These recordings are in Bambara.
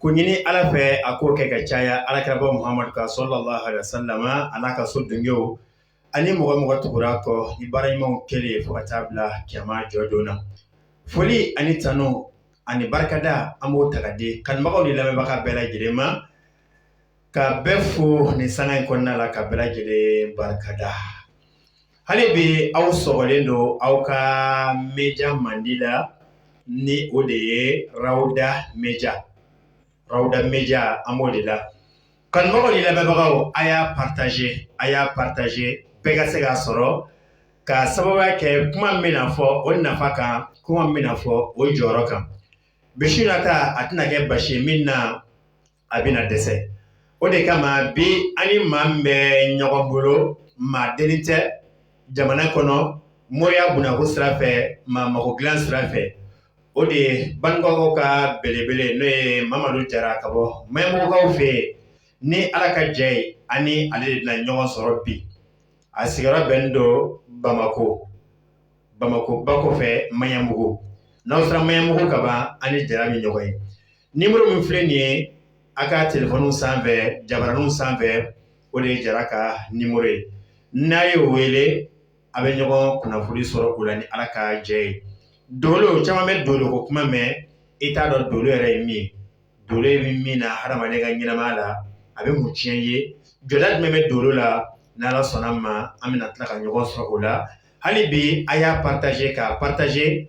k'o ɲini ala fɛ a k'o kɛ ka caya ala kiraba muhamadu kan sallallahu alaihi wasallam a n'a ka so dungew ani mɔgɔ mɔgɔ tugura kɔ ni baara ɲumanw kɛlen fo ka taa bila kiyama jɔdon na foli ani tanu ani barikada an b'o ta ka di kanubagaw ni lamɛnbaga bɛɛ lajɛlen ma ka bɛɛ fo nin sanga in kɔnɔna la ka bɛɛ lajɛlen barikada Hali bi aw sɔgɔlen don aw ka media mandi la ni o de ye rawuda media rawuda media an b'o de la kanubagaw ni lamɛnbagaw a y'a partager a y'a partager bɛɛ ka se k'a sɔrɔ k'a sababuya kɛ kuma min bɛna fɔ o nafa kan kuma min bɛna fɔ o jɔyɔrɔ kan bisi nata a tɛna kɛ basi min na a bɛna dɛsɛ o de kama bi an ni maa min bɛ ɲɔgɔn bolo maa deni tɛ jamana kɔnɔ moriya bunako sira fɛ maa mago dilan sira fɛ o de ye baninkɔkaw ka belebele n'o ye mamadu jara ka bɔ maɲanbugukaw fɛ yen ni ala ka jɛ ye ani ale de bɛna ɲɔgɔn sɔrɔ bi a sigiyɔrɔ bɛnnen don bamakɔ bamakɔ ba kɔfɛ maɲanbugu n'aw sera maɲanbugu ka ban ani jara bɛ ɲɔgɔn ye nimɔrɔ min filɛ nin ye a ka telefɔniw sanfɛ jabaraninw sanfɛ o de ye jara ka nimɔrɔ ye n'a ye o wele a bɛ ɲɔgɔn kunnafoni sɔrɔ o la ni ala ka jɛ ye dolo caman bɛ dolo ko kuma mɛn i t'a dɔn dolo yɛrɛ ye min dolo ye min min na hadamaden ka ɲɛnamaya la a bɛ mun tiɲɛ ye jɔda jumɛn bɛ dolo la ni ala sɔnna ma an bɛna tila ka ɲɔgɔn sɔrɔ o la hali bi a y'a partager k'a partager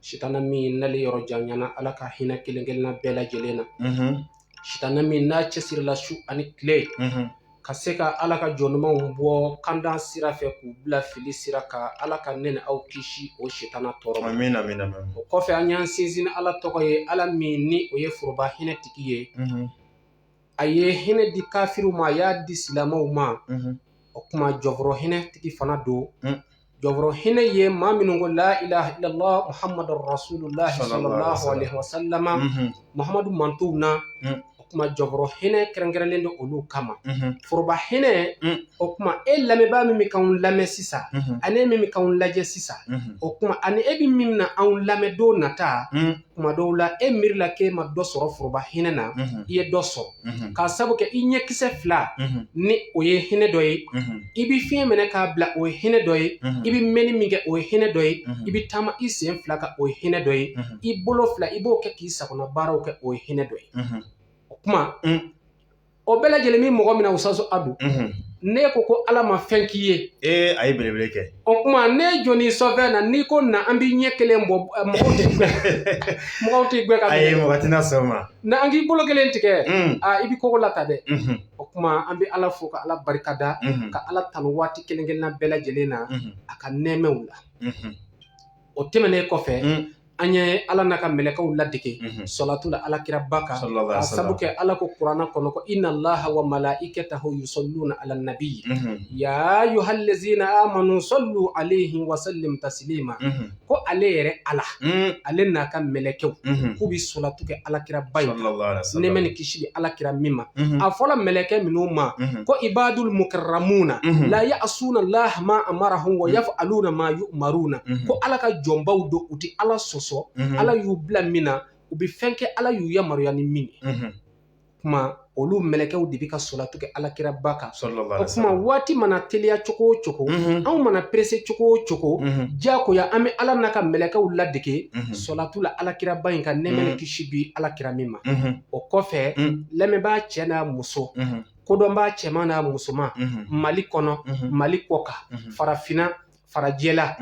Sitanɛ min n'ale yɔrɔ janyana Ala ka hinɛ kelen kelenna bɛɛ lajɛlen na. Sitanɛ min n'a cɛsirila su ani kile ka se ka Ala ka jɔn ɲumanw bɔ kanda sira fɛ k'u bila fili sira kan Ala ka ne ni aw kisi o sitanɛ tɔɔrɔ ma. Amina amina amina. O kɔfɛ an y'an sinsin ni Ala tɔgɔ ye Ala min ni o ye foroba hinɛ tigi ye. A ye hinɛ di kafiriw ma a y'a di silamɛw ma. O kuma jɔnforo hinɛ tigi fana don. jɔnforo hinɛ ye maa minnu ko la ilaha illallah muhamadu rasulullah sallallahu alaihi wasallam muhamadu mantɔnw na o kuma jɔnforo hinɛ kɛrɛnkɛrɛnlen don olu kama foroba hinɛ o kuma e lamɛnbaa min bɛ k'anw lamɛn sisan ani e min bɛ k'anw lajɛ sisan o kuma ani e bɛ min na anw lamɛn don nata kuma dɔw la e miiri la k'e ma dɔ sɔrɔ foroba hinɛ na i ye dɔ sɔrɔ k'a sabu kɛ i ɲɛkisɛ fila ni o ye hinɛ dɔ ye i bɛ fiɲɛ minɛ k'a bila o ye hinɛ dɔ ye i bɛ mɛnni min kɛ o ye hinɛ dɔ ye i bɛ taama i sen fila kan o ye hinɛ dɔ ye i bolo fila i b'o kɛ k'i sagona baaraw kɛ o ye hinɛ dɔ ye o kuma o bɛɛ lajɛlen min mɔgɔ min na usaso adu ne ko ko ala ma fɛn k'i ye ee a ye belebele kɛ o kuma ne jɔni sɔfɛn na n'i ko na an b'i ɲɛ kelen bɔ mɔgɔw tɛ mɔgɔw tɛ gbɛ ka a ye mɔgɔ tɛna sɔn ma na an k'i bolo kelen tigɛ a i bɛ kogo la ta dɛ o kuma an bɛ ala fo ka ala barika da ka ala tanu waati kelen kelenna bɛɛ lajɛlen na a ka nɛɛmɛw la o tɛmɛnen kɔfɛ an ye ala n'a ka mɛlɛkɛw ladege sɔlatu la alakiraba kan k'a sabu kɛ ala ko kurana kɔnɔ ko inna allaha wa malaikatahu yusalluna ala nabi ya ayyuhallazina amanu sallu alayhi wa sallimu taslima ko ale yɛrɛ ala ale n'a ka mɛlɛkɛw k'u bɛ sɔlatu kɛ alakiraba ye nɛɛma ni kisi bi alakira min ma a fɔla mɛlɛkɛ minnu ma ko ibadul mukarramuna la ya'suna Allah ma amarahum wa yaf'aluna ma yu'maruna ko Ala ka jɔnbaw don u tɛ Ala sɔsɔ Ala y'u bila min na u bɛ fɛn kɛ Ala y'u yamaruya ni min ye kuma olu mɛlɛkɛw de bɛ ka sɔlatu kɛ alakira ba kan o kuma waati mana teliya cogo o cogo anw mana perese cogo o cogo diyagoya an bɛ ala n'a ka mɛlɛkɛw ladege sɔlatu la alakira ba in kan nɛɛma ni kisi bi alakira min ma o kɔfɛ lamɛnbaa cɛ n'a muso kodɔnbaa cɛman n'a musoman mali kɔnɔ mali kɔkan farafinna farajɛla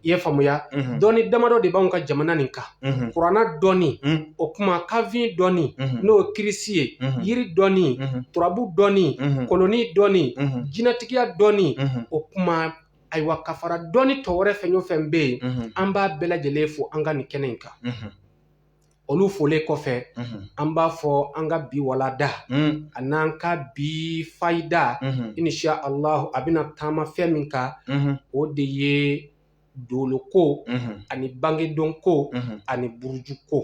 i ye faamuya dɔnni damadɔ de b'anw ka jamana nin kan kurana dɔnni o kuma kanfin dɔnni n'o ye kirisi ye yiri dɔnni turabu dɔnni koloni dɔnni jinɛtigiya dɔnni o kuma ayiwa ka fara dɔnni tɔ wɛrɛ fɛn o fɛn bɛ yen an b'a bɛɛ lajɛlen fo an ka nin kɛnɛ in kan olu folen kɔfɛ an b'a fɔ an ka bi walanda an'an ka bi fayida insha ala a bɛna taama fɛn min kan o de ye dolo ko ani bangedon ko ani buruju ko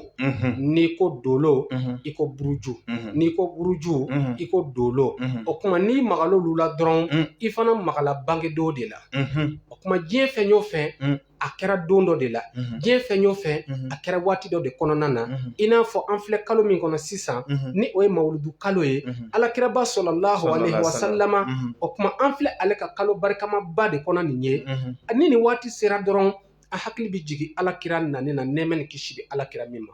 n'i ko dolo i ko buruju n'i ko buruju i ko dolo o kuma n'i magala olu la dɔrɔn i fana magala bangedon de la o kuma diɲɛ fɛn o fɛn a kɛra don dɔ de la diɲɛ fɛn o fɛn a kɛra waati dɔ de kɔnɔna na i n'a fɔ an filɛ kalo min kɔnɔ sisan ni o ye mawuludu kalo ye alakiraba sallallahu alaihi wa sallama o kuma an filɛ ale ka kalo barikamaba de kɔnɔ nin ye ni nin waati sera dɔrɔn an hakili bɛ jigin alakira nani na nɛɛmɛ ni kisi bɛ alakira min ma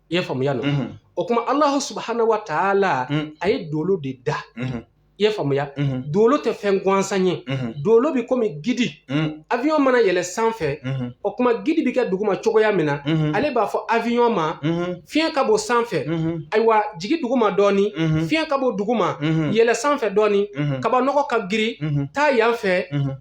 i ye faamuya no o kuma allahu subhanahu wa taala a ye dolo de da i ye faamuya dolo tɛ fɛn gansan ye dolo bɛ komi gidi avion mana yɛlɛ sanfɛ o kuma gidi bɛ kɛ duguma cogoya min na ale b'a fɔ avion ma fiɲɛ ka bon sanfɛ ayiwa jigin duguma dɔɔni fiɲɛ ka bon duguma yɛlɛ sanfɛ dɔɔni kabanɔgɔ ka girin taa yan fɛ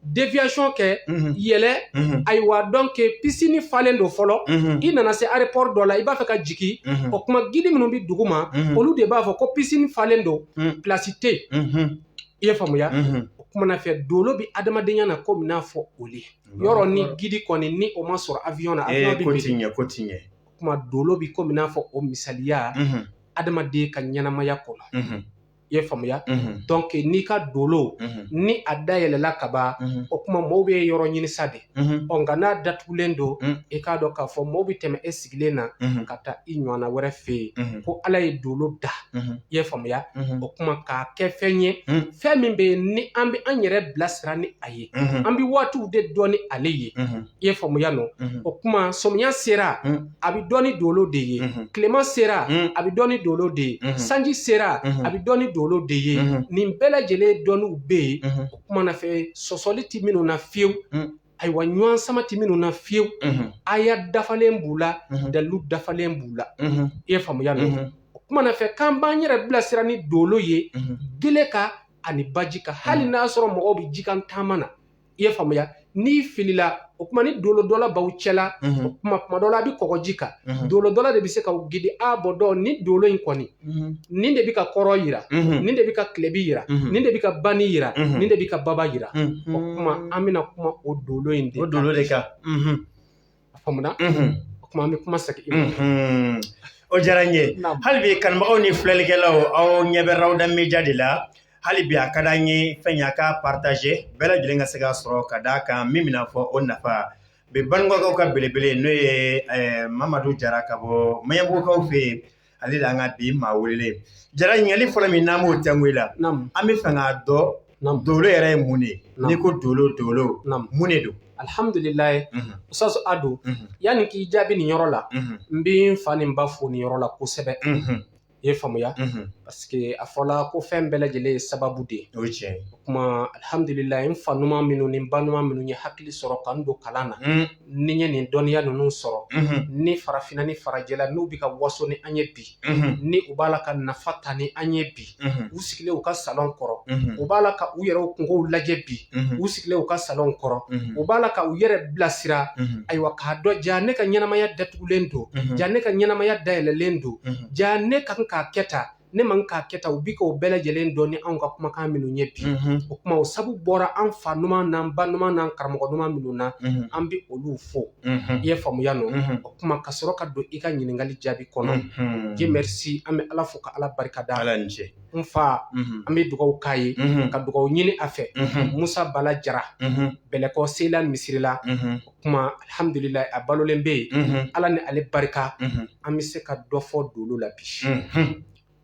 déviation kɛ mhm. yɛlɛ mhm. ayiwa donc pisini falen don fɔlɔ mhm. i nana se aéroport dɔ la i b'a fɛ ka jigi o kuma gidi minnu bɛ duguma olu de b'a fɔ ko pisini falen don place tɛ yen i ye faamuya o kuma na fɛ dolo bɛ adamadenya na komi n'a fɔ o le yɔrɔ ni gidi kɔni ni o ma sɔrɔ avion na avion bɛ biri ko tiɲɛ o kuma dolo bɛ komi n'a fɔ o misaliya adamaden ka ɲɛnamaya kɔnɔ i ye faamuya Mhm, donc n'i ka dolo mhm, ni a dayɛlɛla kaban mhm, o kuma mɔɔw bɛ yɔrɔ ɲini sa de mhm, ɔ nka n'a datugulen don Mm. i k'a dɔn k'a fɔ mɔɔw bɛ tɛmɛ e sigilen na mhm, ka taa i ɲɔgɔnna wɛrɛ fɛ yen mhm, ko ala ye dolo da mhm, i ye faamuya mhm, o kuma k'a kɛ fɛn ye Mm. fɛn min bɛ yen ni an bɛ an yɛrɛ bilasira ni a ye mhm, an bɛ waatiw de dɔn ni ale ye mhm. i ye faamuya nɔ o kuma sɔmiya sera a bɛ dɔn ni dolo de ye tilema sera a bɛ dɔn ni dolo de ye sanji sera a bɛ dɔn ni dolo de ye nin bɛɛ lajɛlen dɔnniw bɛ yen o kuma na fɛ sɔsɔli tɛ minnu na fiyewu ayiwa ɲɔgɔn sama tɛ minnu na fiyewu aya dafalen b'u la dalilu dafalen b'u la i ye faamuya nɔ o kuma na fɛ k'an b'an yɛrɛ bilasira ni dolo ye gele kan ani baji kan hali n'a sɔrɔ mɔgɔw bɛ jikan taama na i ye faamuya n'i filila o kuma ni dolo dɔnna b'aw cɛla o kuma kuma dɔ la a bɛ kɔgɔji kan dolo dɔnna de bɛ se k'aw gidi a b'o dɔn ni dolo in kɔni nin de bɛ ka kɔrɔn yira nin de bɛ ka tilebi yira nin de bɛ ka bani yira nin de bɛ ka baba yira o kuma an bɛna kuma o dolo in de o dolo de kan a faamuya o kuma an bɛ kuma segin i ma o diyara n ye hali bi kanubagaw ni filɛlikɛlaw aw ɲɛ bɛ Rawda média de la hali bi a ka d'an ye fɛn y'a k'a partager bɛɛ lajɛlen ka se k'a sɔrɔ ka d'a kan min bɛna fɔ o nafa bi bangebagaw ka belebele n'o ye mamadu jara ka bɔ maɲanbugukaw fɛ yen ale de an ka bi maa welelen jara ɲininkali fɔlɔ min n'an b'o tɛnku i la an b'a fɛ k'a dɔn dolo yɛrɛ ye mun de n'i ko dolo dolo mun de don alihamudulilayi mhm. ustaz Ado mhm. yanni k'i jaabi nin yɔrɔ la mhm. n bɛ n fa ni n ba fo nin yɔrɔ la kosɛbɛ i ye faamuya parce que a fɔla ko fɛn bɛɛ lajɛlen ye sababu de ye o ye tiɲɛ ye o kuma alihamudulilayi n fa ɲuman minnu ni n ba ɲuman minnu ye hakili sɔrɔ ka n don kalan na ni n ye nin dɔnniya ninnu sɔrɔ ni farafinna ni farajɛla n'u bɛ ka waso ni an ye bi ni u b'a la ka nafa ta ni an ye bi u sigilen u ka salon kɔrɔ u b'a la ka u yɛrɛ kungow lajɛ bi u sigilen u ka salon kɔrɔ u b'a la ka u yɛrɛ bilasira ayiwa k'a dɔn ja ne ka ɲɛnamaya datugulen don ja ne ka ɲɛnamaya dayɛlɛlen don ja ne ka kan k'a kɛ tan ne man k'a kɛ ta u bi k'o bɛɛ lajɛlen dɔn ni anw ka kumakan minnu ye bi mhm. o kuma o sabu bɔra an fa ɲuman n'an ba ɲuman n'an karamɔgɔ ɲuman minnu na mhm. an bɛ olu fo mhm. i ye faamuya nɔ o kuma ka sɔrɔ ka don i ka ɲininkali jaabi kɔnɔ Dieu merci an bɛ ala fo ka ala barika da ala ni ce n fa an bɛ dugawu k'a ye ka dugawu ɲini a fɛ musa bala jara bɛlɛkɔ seyila misirila kuma alihamdulilayi a balolen bɛ yen mhm. ala ni ale barika mhm. an bɛ se ka dɔ fɔ dolo la bi mhm.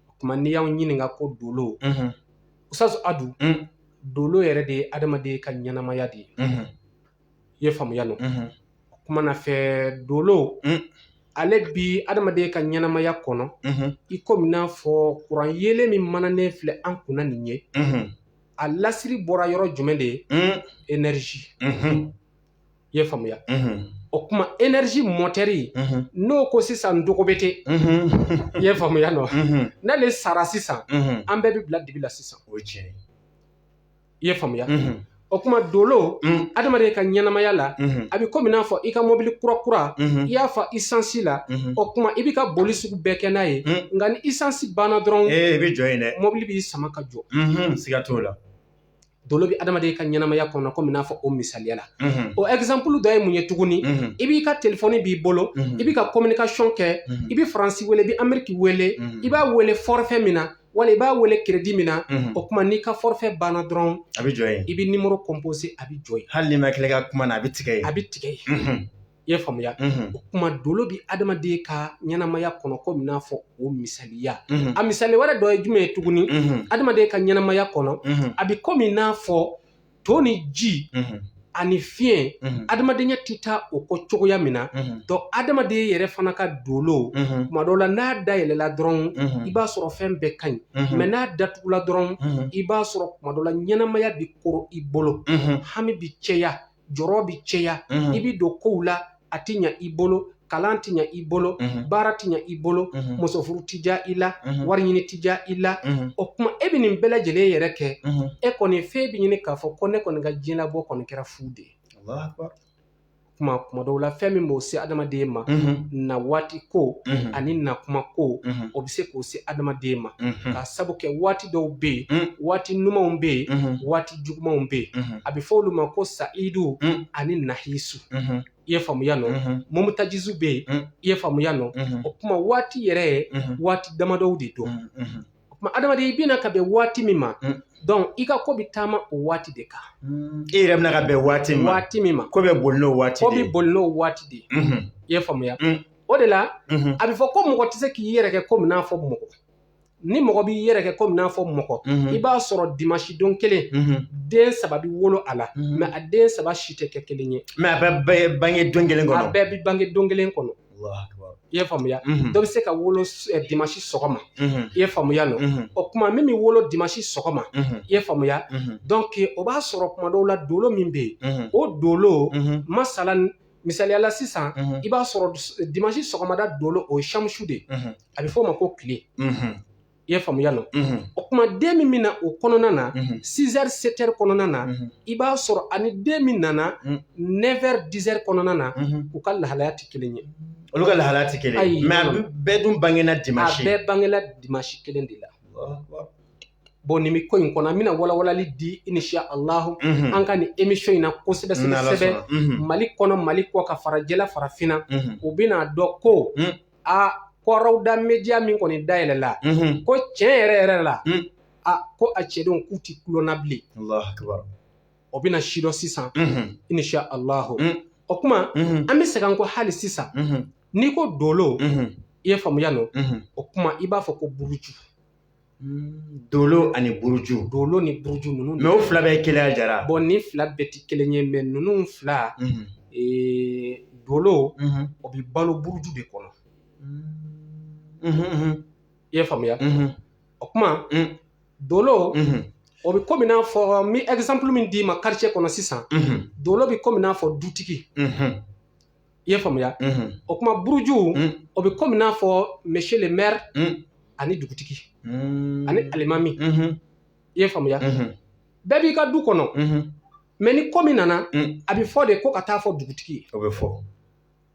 o kuma n'i y'an ɲininka ko dolo usutazu adu mm. dolo yɛrɛ de ye adamaden ka ɲɛnamaya de ye i ye faamuya nɔ o kuma na fɛ dolo mm. ale bi adamaden ka ɲɛnamaya kɔnɔ i komi n'a fɔ kuran yeelen min mananen filɛ an kunna nin ye a lasiri bɔra yɔrɔ jumɛn de ye mm. énergie i ye faamuya o kuma énergie motɛri n'o ko sisan dogo bɛ te i ye faamuya nɔ n'ale sara sisan an bɛɛ bɛ bila dibi la sisan o ye tiɲɛ ye i ye faamuya o kuma dolo adamaden ka ɲɛnamaya la a bɛ komi n'a fɔ i ka mɔbili kura kura i y'a fa isansi la o kuma i bɛ ka boli sugu bɛɛ kɛ n'a ye nka ni isansi banna dɔrɔn i bɛ jɔ yen dɛ mɔbili b'i sama ka jɔ siga t'o la dolo bɛ adamaden ka ɲɛnamaya kɔnɔ komi n'a fɔ o misaliya la o ɛzanplu dɔ ye mun ye tuguni i b'i ka telefɔni b'i bolo i bɛ ka communication kɛ i bɛ faransi wele i bɛ ameriki wele i b'a wele forfait min na wala i b'a wele crédit min na o kuma n'i ka forfait banna dɔrɔn a bɛ jɔ yen i bɛ numéro composé a bɛ jɔ yen hali n'i ma tila ka kuma na a bɛ tigɛ yen a bɛ tigɛ I ye faamuya o kuma dolo bɛ adamaden ka ɲɛnamaya kɔnɔ komi n'a fɔ o misaliya a misali wɛrɛ dɔ ye jumɛn ye tuguni adamaden ka ɲɛnamaya kɔnɔ a bɛ komi n'a fɔ to ni ji ani fiɲɛ adamadenya tɛ taa o kɔ cogoya min na dɔnku adamaden yɛrɛ fana ka dolo kuma dɔ la n'a dayɛlɛla dɔrɔn i b'a sɔrɔ fɛn bɛɛ ka ɲi mɛ n'a datugula dɔrɔn i b'a sɔrɔ kuma dɔ la ɲɛnamaya bɛ kɔrɔ i bolo hami bɛ cɛya jɔrɔ bɛ cɛya i bɛ don kow la a tɛ ɲɛ i bolo kalan tɛ ɲɛ i bolo baara tɛ ɲɛ i bolo muso furu tɛ diya i la wari ɲini tɛ diya i la o kuma e bɛ nin bɛɛ lajɛlen yɛrɛ kɛ e kɔni fɛn bɛ ɲini k'a fɔ ko ne kɔni ka diɲɛlabɔ kɔni kɛra fu de ye kuma kuma dɔw la fɛn min b'o se adamaden ma na waati ko ani na kuma ko o bɛ se k'o se adamaden ma k'a sabu kɛ waati dɔw bɛ yen waati ɲumanw bɛ yen waati jugumanw bɛ yen mhm. a bɛ fɔ olu ma ko sayidu mhm. ani nahisu mhm. i ye faamuya nɔ mɔmutajisu bɛ yen i ye faamuya nɔ o kuma waati yɛrɛ ye waati damadɔw de don o kuma adamaden i bɛ na ka bɛn waati min ma dɔnku i ka ko bɛ taama o waati de kan i yɛrɛ bɛ na ka bɛn waati min ma waati min ma ko bɛ boli n'o waati de ye ko bɛ boli n'o waati de ye i ye faamuya o de la a bɛ fɔ ko mɔgɔ tɛ se k'i yɛrɛ kɛ komi n'a fɔ mɔgɔ ni mɔgɔ b'i yɛrɛ kɛ komi n'a fɔ mɔgɔ i b'a sɔrɔ dimansi don kelen den saba bɛ wolo a la mɛ a den saba si tɛ kɛ kelen ye mɛ a bɛɛ bange don kelen kɔnɔ a bɛɛ bɛ bange don kelen kɔnɔ i ye faamuya dɔ bɛ se ka wolo dimansi sɔgɔma i ye faamuya nɔ o kuma min bɛ wolo dimansi sɔgɔma i ye faamuya dɔnki o b'a sɔrɔ kuma dɔw la dolo min bɛ yen o dolo masala misaliya la sisan i b'a sɔrɔ dimansi sɔgɔmada dolo o ye samusu de ye a bɛ fɔ o ma ko tile i ye faamuya nɔ o kuma den min bɛ na o kɔnɔna na sizɛri setɛri kɔnɔna na i b'a sɔrɔ ani den min nana nɛfɛri dizɛri kɔnɔna na u ka lahalaya tɛ kelen ye olu ka lahalaya tɛ kelen ye mɛ a bɛɛ dun bangena dimansi bɛɛ bangela dimansi kelen de la bon nin bɛ ko in kɔnɔ an bɛna walawalali di inshallahu an ka nin emisiyɔn in na kosɛbɛ kosɛbɛ mali kɔnɔ mali kɔkan farajɛla farafinna u bɛna dɔn ko a ko rawda media min kɔni dayɛlɛla ko tiɲɛ yɛrɛ yɛrɛ la a ko a cɛdenw k'u tɛ kulonna bilen o bɛna sidɔn sisan inshallahu o kuma an bɛ segin ko hali sisan n'i ko dolo i ye faamuya nɔ o kuma i b'a fɔ ko buruju Dolo ani buruju dolo ni buruju ninnu mɛ o fila bɛɛ kelen jara bon nin fila bɛɛ tɛ kelen ye mɛ ninnu fila dolo o bɛ balo buruju de kɔnɔ i ye faamuya o kuma dolo o bɛ kɔmi n'a fɔ n bɛ exemple min d'i ma quartier kɔnɔ sisan dolo bɛ kɔmi n'a fɔ dutigi i ye faamuya o kuma buruju o bɛ komi n'a fɔ monsieur le maire ani dugutigi ani alimami i ye faamuya bɛɛ b'i ka du kɔnɔ mɛ ni ko min nana a bɛ fɔ de ko ka taa fɔ dugutigi ye o bɛ fɔ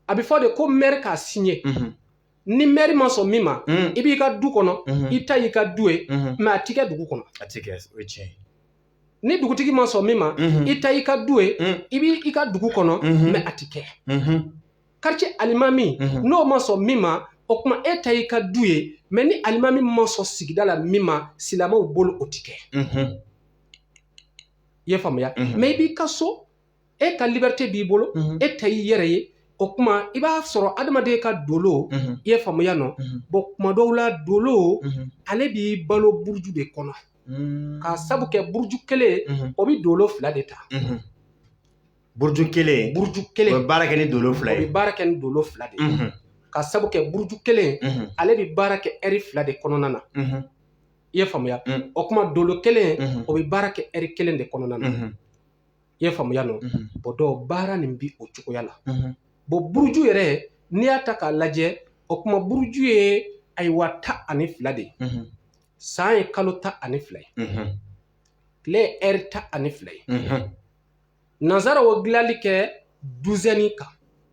a bɛ fɔ de ko maire k'a signé ni maire ma sɔn min ma i b'i ka du kɔnɔ i ta y'i ka du ye mɛ a tɛ kɛ dugu kɔnɔ a tɛ kɛ o ye tiɲɛ ye ni dugutigi ma sɔn min ma i ta y'i ka du ye i b'i ka dugu kɔnɔ mɛ a tɛ kɛ quartier alimami n'o ma sɔn min ma o kuma e ta y'i ka du ye mɛ ni alimami ma sɔn sigida la min ma silamɛw bolo o tɛ kɛ i ye faamuya mɛ i b'i ka so e ka liberté b'i bolo e ta y'i yɛrɛ ye o kuma i b'a sɔrɔ adamaden ka dolo i ye faamuya nɔ bon kuma dɔw la dolo ale bɛ balo buruju de kɔnɔ k'a sabu kɛ buruju kelen o bɛ dolo fila de ta buruju kelen buruju kelen bɛ baara kɛ ni dolo fila ye o bɛ baara kɛ ni dolo fila de ye k'a sabu kɛ buruju kelen ale bɛ baara kɛ ɛri fila de kɔnɔna na i ye faamuya o kuma dolo kelen o bɛ baara kɛ ɛri kelen de kɔnɔna na i ye faamuya nɔ bɔn dɔw baara nin bi o cogoya la bɔn buruju yɛrɛ n'i y'a ta k'a lajɛ o kuma buruju ye ayiwa tan ani fila de ye san ye kalo tan ani fila ye tile ye ɛri tan ani fila ye nansaraw dilanli kɛ duzɛni kan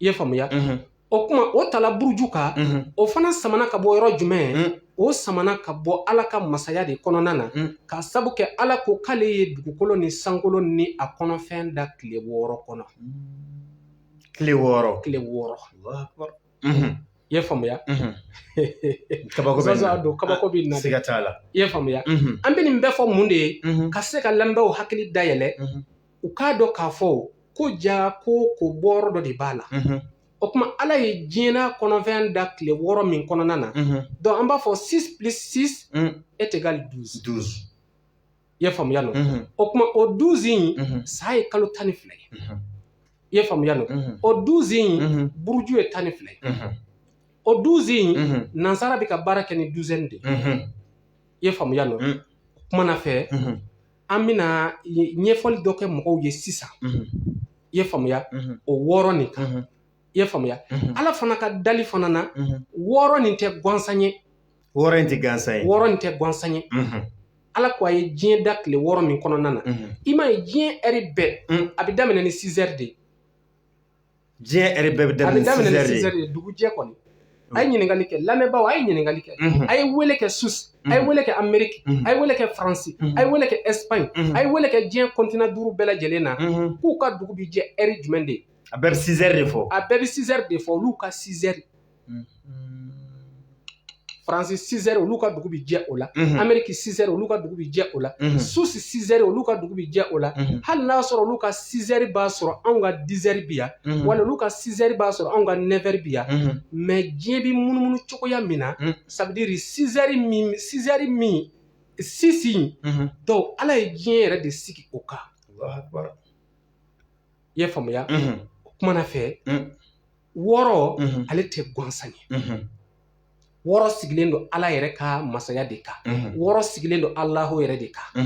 I ye faamuya o kuma o tala buruju kan o fana samana ka bɔ yɔrɔ jumɛn o samana ka bɔ ala ka masaya de kɔnɔna na k'a sabu kɛ ala ko k'ale ye dugukolo ni sankolo ni a kɔnɔfɛn da tile wɔɔrɔ kɔnɔ tile wɔɔrɔ tile wɔɔrɔ i ye faamuya kaba don kabako bɛ na siga t'a la i ye faamuya an bɛ nin bɛɛ fɔ mun de ye ka se ka lamɛnbaaw hakili dayɛlɛ u k'a dɔn k'a fɔ ko jaa ko ko bɔyɔrɔ dɔ de b'a la o kuma ala ye diɲɛ n'a kɔnɔfɛn da tile wɔɔrɔ min kɔnɔna na donc an b'a fɔ six plus six est égal douze douze i ye faamuya nɔ o kuma o douze in san ye kalo tan ni fila ye i ye faamuya nɔ o douze in buruju ye tan ni fila ye o douze in nansara bɛ ka baara kɛ ni douzaine de ye i ye faamuya nɔ kumana fɛ An bɛna ɲɛfɔli dɔ kɛ mɔgɔw ye sisan i ye faamuya o wɔɔrɔ nin kan i ye faamuya ala fana ka dali fana na wɔɔrɔ nin tɛ gansan ye wɔɔrɔ in tɛ gansan ye wɔɔrɔ in tɛ gansan ye ala ko a ye diɲɛ da tile wɔɔrɔ min kɔnɔna na i m'a ye diɲɛ ɛri bɛɛ a bɛ daminɛ ni sizɛri de ye diɲɛ ɛri bɛɛ bɛ daminɛ ni sizɛri de dugu jɛ kɔni a ye ɲininkali kɛ lamɛnbaaw a ye ɲininkali kɛ a ye weele kɛ susi a ye weele kɛ ameriki a ye weele kɛ faransi a ye weele kɛ ɛsipaɲi a ye weele kɛ diɲɛ kɔntinan duuru bɛɛ lajɛlen na k'u ka dugu bɛ jɛ ɛri jumɛn de a bɛɛ bɛ sizɛri de fɔ a bɛɛ bɛ sizɛri de fɔ olu ka sizɛri faransi sizɛri olu ka dugu bi jɛ o la ameriki sizɛri olu ka dugu bi jɛ o la susi sizɛri olu ka dugu bi jɛ o la hali n'a sɔrɔ olu ka sizɛri b'a sɔrɔ anw ka dizɛri bi yan wala olu ka sizɛri b'a sɔrɔ anw ka nɛfɛri bi yan mɛ diɲɛ bi munumunu cogoya min na ça veut dire sizɛri min sizɛri min sisi don ala ye diɲɛ yɛrɛ de sigi o kan i ye faamuya o kumana fɛ wɔɔrɔ ale tɛ gansan ye wɔɔrɔ sigilen don ala yɛrɛ ka masaya de kan wɔɔrɔ sigilen don alahu yɛrɛ de kan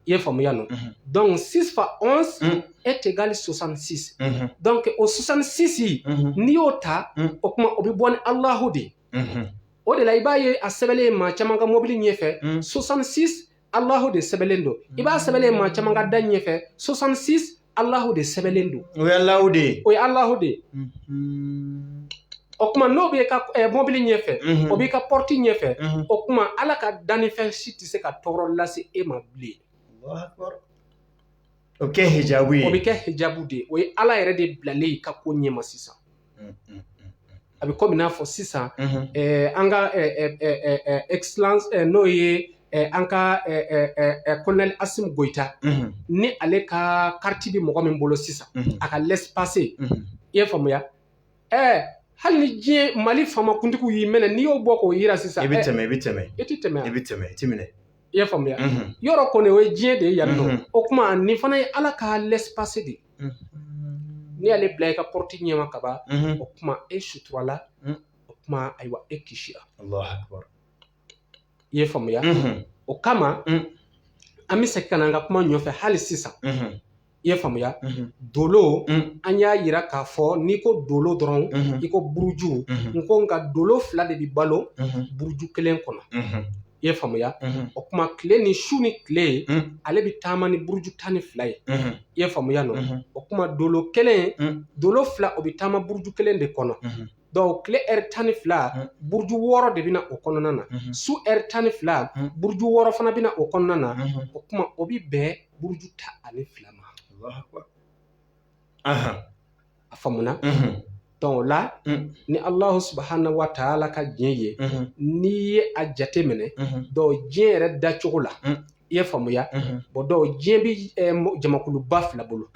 i ye faamuya nɔ donc six fois onze est égal soixante six donc o soixante six n'i y'o ta o kuma o bɛ bɔ ni alahu de ye o de la i b'a ye a sɛbɛnlen maa caman ka mobili ɲɛfɛ soixante six Alahu de sɛbɛnlen don i b'a sɛbɛnlen maa caman ka da ɲɛfɛ soixante six Alahu de sɛbɛnlen don o ye Alahu de ye o ye Alahu de ye o kuma n'o b'e ka eh, mobili ɲɛfɛ mhm. o b'i ka pɔrɔti ɲɛfɛ mhm. o kuma ala ka dannifɛn si tɛ se ka tɔɔrɔ lase e ma bilen O bɛ kɛ hijabu ye. O bɛ kɛ hijabu de ye. O ye Ala yɛrɛ de bilalen y'i ka ko ɲɛma sisan. A bɛ komi n'a fɔ sisan. An ka excellence n'o ye an ka colonel Asimi Goyita. Ni ale ka carte bɛ mɔgɔ min bolo sisan. A ka laissez-passer i ye faamuya. ɛɛ hali ni diɲɛ mali faamakuntigiw y'i minɛ n'i y'o bɔ k'o yira sisan i bɛ tɛmɛ i bɛ tɛmɛ i tɛ tɛmɛ i bɛ tɛmɛ i tɛ minɛ i y'a faamuya yɔrɔ kɔni o ye diɲɛ de ye yan nɔ o kuma nin fana ye ala ka laissez-passer de ye n'i y'ale bila i ka pɔrɔti ɲɛma ka ban o kuma e suturala o kuma ayiwa e kisira i ye faamuya o kama an bɛ segin ka na an ka kuma ɲɔfɛ hali sisan i ye faamuya dolo an y'a yira k'a fɔ n'i ko dolo dɔrɔn i ko buruju n ko nka dolo fila de bɛ balo buruju kelen kɔnɔ i ye faamuya o kuma tile ni su ni tile ale bɛ taama ni buruju tan ni fila ye i ye faamuya nɔ o kuma dolo kelen dolo fila o bɛ taama buruju kelen de kɔnɔ Donc tile ɛri tan ni fila mm. buruju wɔɔrɔ de bɛna o kɔnɔna na mm-hmm. su ɛri tan ni fila mm. buruju wɔɔrɔ fana bɛna o kɔnɔna na mm-hmm. o kuma o bɛ bɛn buruju tan ni fila ma a faamuna mm-hmm. donc o la ni alahu subhanahu wa taala ka diɲɛ ye n'i ye a jate minɛ donc diɲɛ yɛrɛ dacogo la i ye faamuya bon donc diɲɛ bɛ jamakuluba fila bolo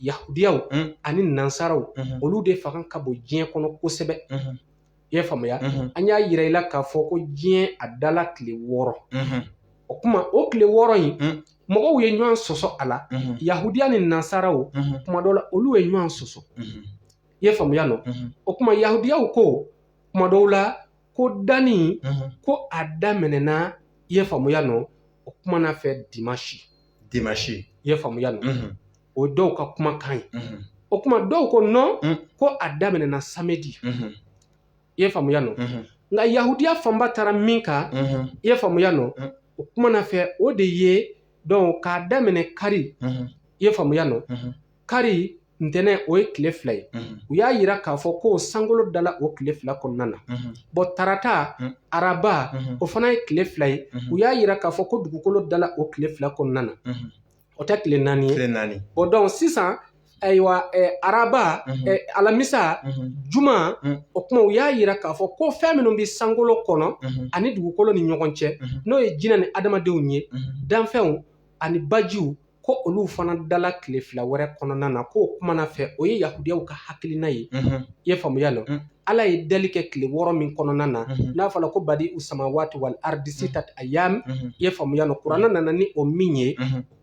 yahudiyaw ani nansaraw olu de fanga ka bon diɲɛ kɔnɔ kosɛbɛ i ye faamuya an y'a yira i la k'a fɔ ko diɲɛ a dala tile wɔɔrɔ o kuma o tile wɔɔrɔ in mɔgɔw ye ɲɔgɔn sɔsɔ a la yahudiya ni nansaraw kuma dɔ la olu ye ɲɔgɔn sɔsɔ i ye faamuya nɔ o kuma yahudiyaw ko kuma dɔw la ko danni ko a daminɛna i ye faamuya nɔ o kuma na fɛ dimansi dimansi i ye faamuya nɔ o dɔw ka kumakan ye o kuma dɔw ko non ko a daminɛna samedi i ye faamuya nɔ nka yahudiya fanba taara min kan i ye faamuya nɔ o kuma na fɛ o de ye donc k'a daminɛ kari i ye faamuya nɔ kari ntɛnɛn o ye tile fila ye u y'a yira k'a fɔ ko sankolo dala o tile fila kɔnɔna na bon tarata araba o fana ye tile fila ye u y'a yira k'a fɔ ko dugukolo dala o tile fila kɔnɔna na o tɛ tile naani ye naani bon donc sisan ayiwa araba alamisa juma o kuma u y'a yira k'a fɔ ko fɛn minnu bɛ sankolo kɔnɔ ani dugukolo ni ɲɔgɔn cɛ n'o ye jinɛ ni adamadenw ye danfɛnw ani bajiw ko olu fana dala tile fila wɛrɛ kɔnɔna na k'o kumana fɛ o ye yahudiyaw ka hakilina ye i ye faamuya nɔ ala ye dali kɛ tile wɔɔrɔ min kɔnɔna na n'a fɔra ko badi'u samawati wal ardi sitati ayam i ye faamuya nɔ kuranna nana ni o min ye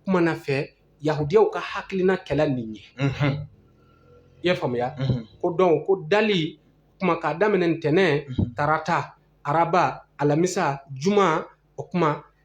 kumana fɛ yahudiyaw ka hakilina kɛla nin ye i ye faamuya ko donc ko dali kuma k'a daminɛ ntɛnɛn tarata araba alamisa juma o kuma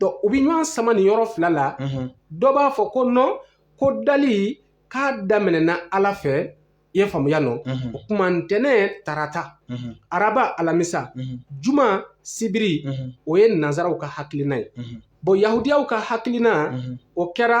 donc u bɛ ɲɔgɔn sama nin yɔrɔ fila la dɔ b'a fɔ ko non ko dali k'a daminɛna ala fɛ i ye faamuya nɔ o kuma ntɛnɛn tarata araba alamisa juma sibiri o ye nansaraw ka hakilina ye bon yahudiyaw ka hakilina o kɛra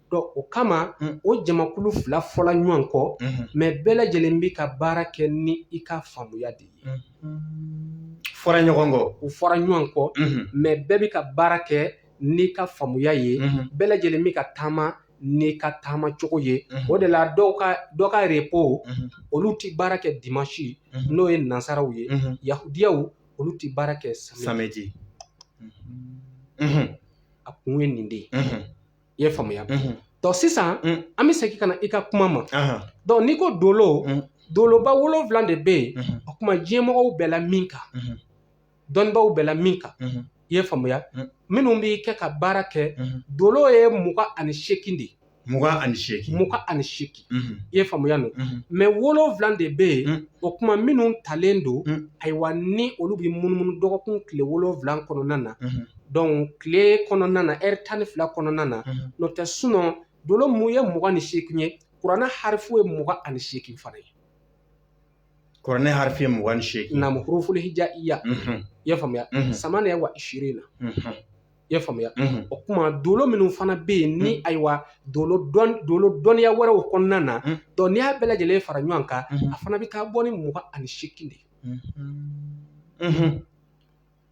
Donc o kama o jamakulu fila fɔla ɲɔgɔn kɔ mais bɛɛ lajɛlen bɛ ka baara kɛ ni i ka faamuya de ye fɔra ɲɔgɔn kɔ u fɔra ɲɔgɔn kɔ mais bɛɛ bɛ ka baara kɛ n'i ka faamuya ye bɛɛ lajɛlen bɛ ka taama n'i ka taama cogo ye o de la dɔw ka dɔ ka repos olu tɛ baara kɛ dimanche n'o ye nansaraw ye yahudiyaw olu tɛ baara kɛ samedi a kun ye nin de ye I ye faamuya donc sisan an bɛ segin ka na i ka kuma ma donc n'i ko dolo doloba wolowula de bɛ yen o kuma diɲɛmɔgɔw bɛɛ la min kan dɔnnibaw bɛɛ la min kan i ye faamuya minnu b'i kɛ ka baara kɛ dolo ye mugan ani seeki de mugan ani seeki i ye faamuya nɔ mais wolowula de bɛ yen o kuma minnu talen don ayiwa ni olu bɛ munumunu dɔgɔkun tile wolonwula kɔnɔna na donc tile kɔnɔna na heure tan ni fila kɔnɔna na n'o tɛ sinon dolo mun ye mugan ni seekin ye kuranɛ harifu ye mugan ani seekin fana ye kuranɛ harifu ye mugan ni seekin na huruful hijaiya i ye faamuya samaniya wa ishirina i ye faamuya o kuma dolo minnu fana bɛ yen ni ayiwa dolo dɔnniya wɛrɛw kɔnɔna na donc n'i y'a bɛɛ lajɛlen fara ɲɔgɔn kan a fana bɛ taa bɔ ni mugan ani seekin de ye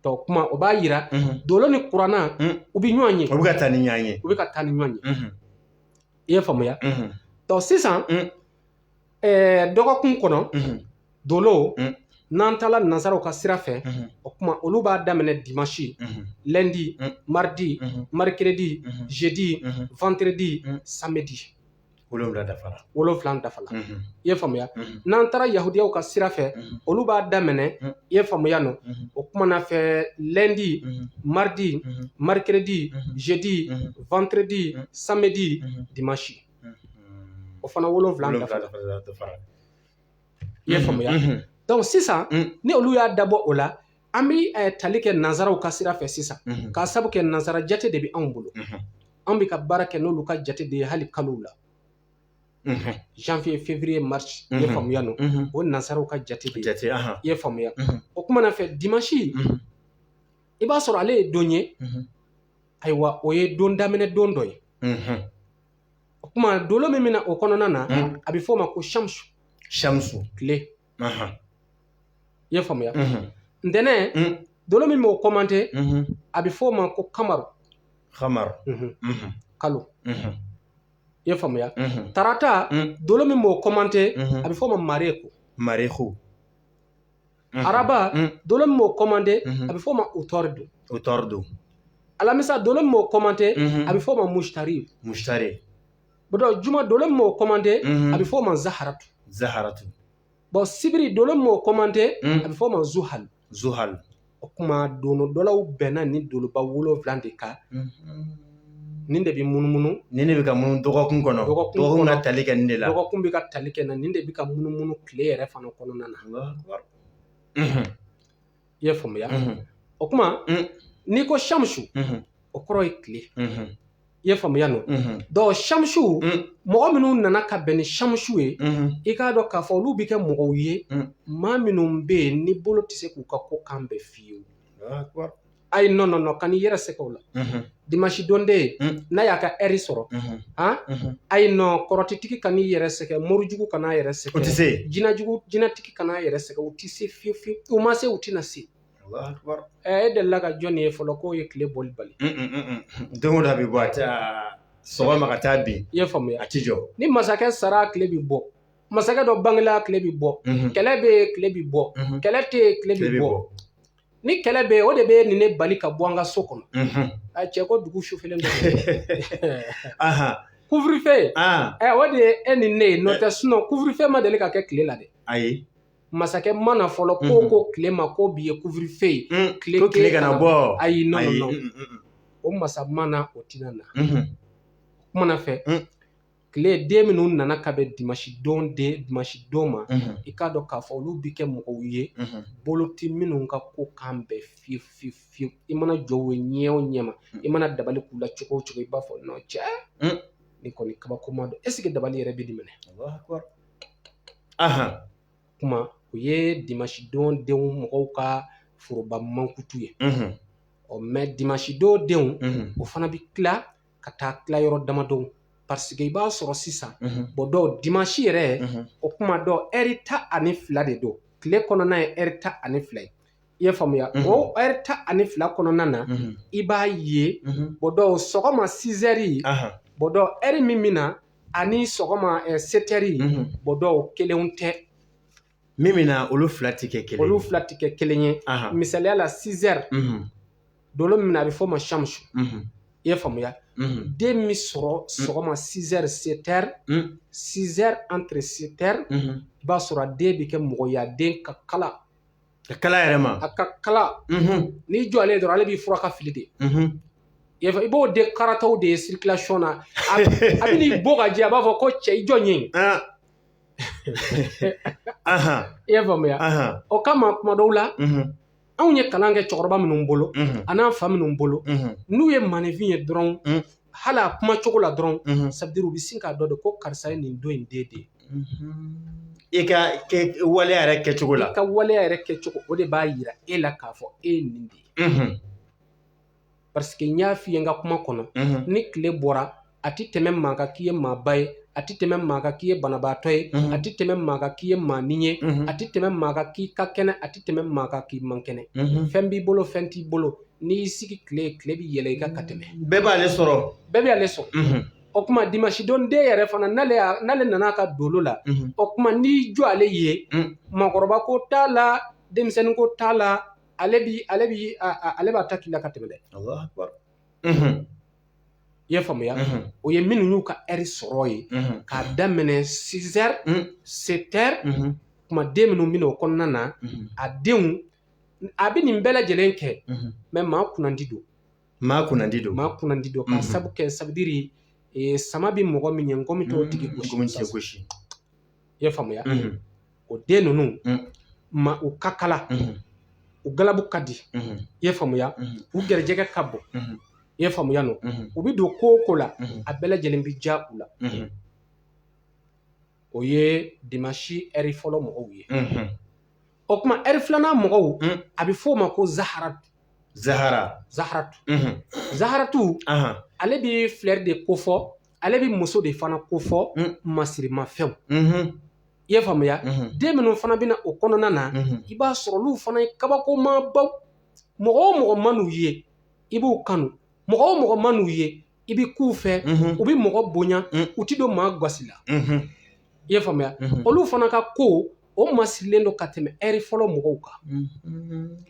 Donc o kuma o b'a yira dolo ni kuranna u bɛ ɲɔgɔn ye u bɛ ka taa ni ɲɔgɔn ye u bɛ ka taa ni ɲɔgɔn ye i ye faamuya donc sisan dɔgɔkun kɔnɔ dolo n'an taala nansaraw ka sira fɛ o kuma olu b'a daminɛ dimanche lundi mardi mercredi jeudi vendredi samedi wolonwula dafara wolonwula dafala i ye faamuya n'an taara yahudiyaw ka sira fɛ olu b'a daminɛ i ye faamuya nɔ o kumana fɛ lundi mardi mercredi jeudi vendredi samedi dimanche o fana wolonwula dafara i ye faamuya donc sisan ni olu y'a dabɔ o la An bɛ tali kɛ nansaraw ka sira fɛ sisan k'a sabu kɛ nansara jate de bɛ anw bolo an bɛ ka baara kɛ n'olu ka jate de ye hali kalo la zanwiye feburuye marisi i ye faamuya nɔ o nansaraw ka jate de ye i ye faamuya o kuma na fɛ dimansi i b'a sɔrɔ ale ye don ye ayiwa o ye don daminɛ don dɔ ye o kuma dolo min bɛ na o kɔnɔna na a bɛ f'o ma ko samusu samusu tile Ahan. I y'a faamuya? Unhun. Ntɛnɛn, un, dolo min b'o kɔmante, unhun, a bɛ f'o ma ko kamaru. Kamaru. Unhun. Unhun. Kalo. Unhun. I y'a faamuya? Unhun. Tarata, un, dolo min b'o kɔmante, unhun, a bɛ f'o ma mareku. Mareku. Unhun. Araba, un, dolo min b'o kɔmante, unhun, a bɛ f'o ma utɔridu. Utɔridu. Alamisa, dolo min b'o kɔmante, unhun, a bɛ f'o ma musitari. Musitari. bɔn juma dolo min b'o kɔmante a bɛ f'o ma zaharatu zaharatu bɔn sibiri dolo min b'o kɔmante a bɛ f'o ma zuhali zuhali o kuma dolodɔnnaw bɛnna nin doloba wolonwula de kan nin de bɛ munumunu nin de bɛ ka munumunu dɔgɔkun kɔnɔ dɔgɔkun ka tali kɛ nin de la dɔgɔkun bɛ ka tali kɛ na nin de bɛ ka munumunu tile yɛrɛ fana kɔnɔna na i ye faamuya o kuma n'i ko samusu o kɔrɔ ye tile i ye faamuya nɔ dɔn samusu mɔgɔ minnu nana ka bɛn ni samusu ye i k'a dɔn k'a fɔ olu bɛ kɛ mɔgɔw ye maa minnu bɛ yen ni bolo tɛ se k'u ka ko kan bɛɛ fiyewu ayi nɔ nɔ nɔ kan'i yɛrɛ sɛgɛn o la dimanche don den mm. n'a y'a ka ɛri sɔrɔ mm-hmm. han mm-hmm. ayi nɔ kɔrɔtitigi kan'i yɛrɛ sɛgɛn morijugu kan'a yɛrɛ sɛgɛn o tɛ se jinajugu jinatigi kan'a yɛrɛ sɛgɛn u tɛ se fiyewu fiyewu u ma se u tɛna se ɛ e delila ka jɔn ye fɔlɔ k'o ye tile bɔli bali don o don a bɛ bɔ a tɛ sɔgɔma ka taa bin i y'a faamuya a tɛ jɔ ni masakɛ sara tile bɛ bɔ masakɛ dɔ bangela tile bɛ bɔ mm-hmm. kɛlɛ bɛ yen tile bɛ bɔ kɛlɛ tɛ yen tile bɛ bɔ ni kɛlɛ bɛ yen o de bɛ e ni ne bali ka bɔ an ka so kɔnɔ a cɛ ko dugu sufɛlen don kufurufɛ ɛ o de ye e ni ne ye n'o tɛ sinɔn kufurufɛ ma deli ka kɛ tile la dɛ ayi masakɛ ma na fɔlɔ k'o ko tile ma ko bi ye kufurufɛ ye tile tile kana bɔ ayi nɔ o masa ma na o tina na kuma na fɛ tile den minnu nana ka bɛn dimansi don den dimansi don ma i k'a dɔn k'a fɔ olu bɛ kɛ mɔgɔw ye bolo tɛ minnu ka ko kan bɛɛ fiyewu fiyewu fiyewu i mana jɔ u ye ɲɛ o ɲɛ ma i mana dabali k'u la cogo o cogo i b'a fɔ nɔ cɛ nin kɔni kabakoma don ɛsike dabali yɛrɛ bɛ nin minɛ kuma o ye dimansi don denw mɔgɔw ka foroba mankutu ye ɔ mɛ dimansi don denw o fana bɛ tila ka taa tila yɔrɔ damadɔ pariseke i b'a sɔrɔ sisan bon dɔw dimansi yɛrɛ o kuma dɔn eri tan ani fila de don tile kɔnɔna ye eri tan ani fila ye i ye faamuya o eri tan ani fila kɔnɔna na i b'a ye bɔ dɔw sɔgɔma sizeri bɔ dɔw eri min bɛ na ani sɔgɔma seteri bɔ dɔw kelenw tɛ min bɛ na olu fila tɛ kɛ kelen ye, olu fila tɛ kɛ kelen ye, ahan, misaliya la 6 heures dolo min bɛ na a bɛ f'o ma shamsu, i ye faamuya, den min sɔrɔ sɔgɔma 6 heures 7 heures, 6 heures entre 7 heures, i b'a sɔrɔ a den bɛ kɛ mɔgɔ ye a den ka kalan, ka kalan a yɛrɛ ma, a ka kalan, n'i jɔ ale ye dɔrɔn ale b'i furan ka fili dɛ, i b'o den karatɔw de ye circulation na, a bɛ n'i bon ka jɛ a b'a fɔ ko cɛ i jɔ n ye yen i y'a faamuya o kama kuma dɔw la anw ye kalan kɛ cɛkɔrɔba minnu bolo an'an fa minnu bolo n'u ye maaninfin ye dɔrɔn hali a kuma cogo la dɔrɔn ça veut dire u bɛ sin k'a dɔn de ko karisa ye nin don in den de ye i ka waleya yɛrɛ kɛcogo la i ka waleya yɛrɛ kɛcogo o de b'a yira e la k'a fɔ e ye nin de ye parce que n y'a f'i ye n ka kuma kɔnɔ ni tile bɔra a tɛ tɛmɛ maa kan k'i ye maaba ye a tɛ tɛmɛ maa kan k'i ye banabaatɔ ye a tɛ tɛmɛ maa kan k'i ye maanin ye a tɛ tɛmɛ maa kan k'i ka kɛnɛ a tɛ tɛmɛ maa kan k'i man kɛnɛ fɛn b'i bolo fɛn t'i bolo n'i y'i sigi tile tile bɛ yɛlɛ i kan ka tɛmɛ bɛɛ b'ale sɔrɔ bɛɛ b'ale sɔrɔ o kuma dimanche don den yɛrɛ fana n'ale nana a ka dolo la o kuma n'i jɔ ale ye maakɔrɔba ko t'a la denmisɛnnin ko t'a la ale bi ale bi ale b'a ta k'i la ka tɛmɛ dɛ i y'a faamuya o ye minnu y'u ka ɛri sɔrɔ ye k'a daminɛ sizɛri setɛri kuma den minnu bɛ na o kɔnɔna na a denw a bɛ nin bɛɛ lajɛlen kɛ mɛ maa kunnandi don maa kunnandi don maa kunnandi don k'a sabu kɛ sabudiri sama bɛ mɔgɔ min ɲɛ ngɔmi t'o tigi gosi i ye faamuya o den ninnu ma u ka kalan u galabu ka di i ye faamuya u garijɛgɛ ka bon i ye faamuya n'u bɛ don ko o ko la a bɛɛ lajɛlen bɛ diya u la o ye dimansi ɛri fɔlɔ mɔgɔw ye o kuma ɛri filanan mɔgɔw a bɛ f'o ma ko zahara zahara zaharatu zaharatu ale bɛ filɛri de kofɔ ale bɛ muso de fana kofɔ masirimafɛnw i ye faamuya den minnu fana bɛ na o kɔnɔna na i b'a sɔrɔ olu fana ye kabakomabaw mɔgɔ o mɔgɔ man'u ye i b'u kanu mɔgɔ o mɔgɔ man'u ye i bɛ k'u fɛ u bɛ mɔgɔ bonya u tɛ don maa gasi la i ye faamuya olu fana ka ko o masirilen don ka tɛmɛ ɛri fɔlɔ mɔgɔw kan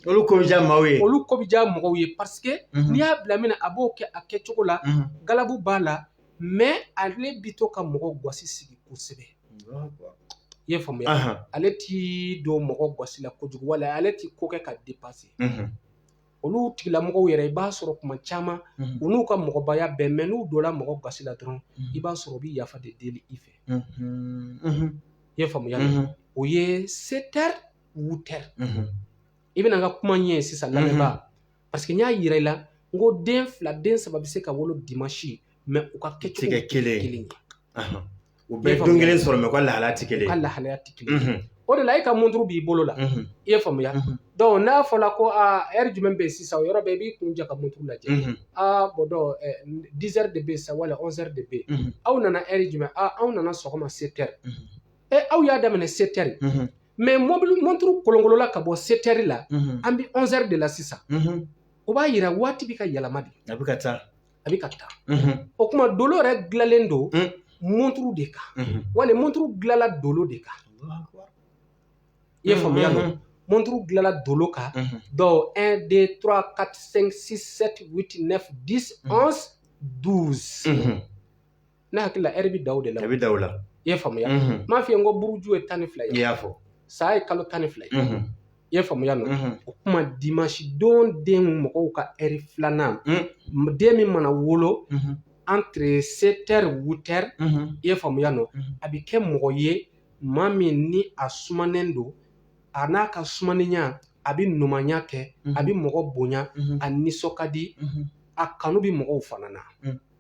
olu ko bɛ diya maaw ye olu ko bɛ diya mɔgɔw ye paseke n'i y'a bila min na a b'o kɛ a kɛcogo la galabu b'a la mɛ ale bi to ka mɔgɔ gasi sigi kosɛbɛ i y'a faamuya ale ti don mɔgɔ gasi la kojugu wala ale ti ko kɛ ka depase olu tigilamɔgɔw yɛrɛ i b'a sɔrɔ kuma caman u n'u ka mɔgɔbaya bɛɛ mɛ n'u donna mɔgɔ gasi la dɔrɔn i b'a sɔrɔ u bɛ yafa de deli i fɛ i y'a faamuya o ye setɛri wutɛri i bɛna n ka kuma ɲɛ sisan lamɛnba parce que n y'a yira i la n ko den fila den saba bɛ se ka wolo dimansi mɛ u ka kɛcogo tɛ kelen ye u bɛ don kelen sɔrɔ mɛ u ka lahalaya tɛ kelen ka lahalaya tɛ kelen o de la e ka mɔnturu b'i bolo la i y'a faamuya dɔnku n'a fɔra ko aa ɛri jumɛn bɛ yen sisan o yɔrɔ bɛɛ i b'i kun ja ka mɔnturu lajɛ aa bɔn dɔnku dizɛri de bɛ yen sa wala ɔnzɛri de bɛ yen aw nana ɛri jumɛn aaa aw nana sɔgɔma setɛri ɛ aw y'a daminɛ setɛri mɛ mɔnturu kolonkolola ka bɔ setɛri la an bɛ ɔnzɛri de la sisan o b'a yira waati bɛ ka yɛlɛma de a bɛ ka taa a bɛ ka taa o tuma dolo yɛrɛ dilanlen don mɔnturu de kan wali mɔnturu dilanla dolo de kan i y'a faamuya mɔnturu dilanla dolo kan donc un deux trois quatre cinq six sept huit neuf dix onze douze Ne hakili la ɛri bɛ dan o de la ɛri bɛ dan o la i y'a faamuya n m'a f'i ye n ko buruju ye tan ni fila ye i y'a fɔ san ye kalo tan ni fila ye i y'a faamuya nɔ o kuma dimansidon den mɔgɔw ka ɛri filanan den min mana wolo antiri setɛri wutɛri i y'a faamuya nɔ a bɛ kɛ mɔgɔ ye maa min ni a sumanen don a n'a ka sumaninya a bɛ ɲumanya kɛ a bɛ mɔgɔ bonya a nisɔn ka di a kanu bɛ mɔgɔw fana na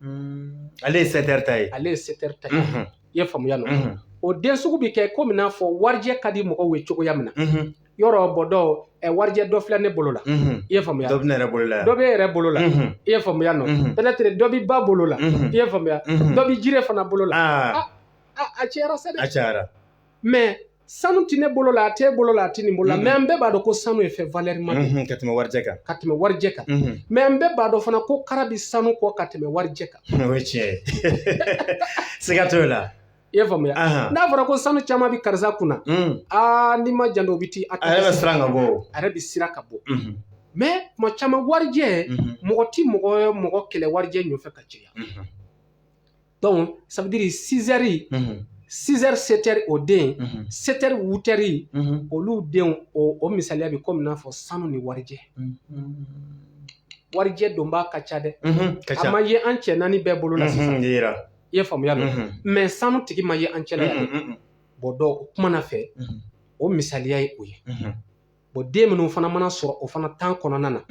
Mm. Ale ye sɛtɛri ta ye ale ye sɛtɛri ta ye mhm. i y'a faamuya nɔ mhm. o den sugu bɛ kɛ komi n'a fɔ warijɛ ka di mɔgɔw ye cogoya min na mhm. yɔrɔ bɔ dɔw warijɛ dɔ filɛ ne bolo la i y'a faamuya dɔ bɛ ne yɛrɛ bolo la dɔ b'e yɛrɛ bolo la i y'a faamuya nɔ pɛtɛtiri dɔ bɛ ba bolo la i y'a faamuya dɔ bɛ Jire fana bolo la ah. a cayara sa dɛ a cayara mɛ sanu tɛ ne bolo la a t'e bolo la a tɛ nin bolo la mɛ an bɛɛ b'a dɔn ko sanu ye fɛn valɛrima de ka tɛmɛ warijɛ kan ka tɛmɛ warijɛ kan mɛ an bɛɛ b'a dɔn fana ko kara bɛ sanu kɔ ka tɛmɛ warijɛ kan o ye tiɲɛ ye siga t'o la i y'a faamuya n'a fɔra ko sanu caman bɛ karisa kunna aa n'i ma jan o bɛ ti a yɛrɛ bɛ siran ka bɔ a yɛrɛ bɛ siran ka bɔ mɛ kuma caman warijɛ mɔgɔ tɛ mɔgɔ kɛlɛ warijɛ nɔfɛ ka caya Donc, ça veut dire sizɛri sizɛri setɛri o den setɛri wutɛri olu denw o misaliya bɛ komi n'a fɔ sanu ni warijɛ warijɛ donbaa ka ca dɛ a ma ye an cɛ naani bɛɛ bolo la sisan i ye faamuya dɔn mɛ sanu tigi ma ye an cɛla yan dɛ bɔn dɔn o kuma na fɛ o misaliya ye o ye Bon den minnu fana mana sɔrɔ o fana tan kɔnɔna na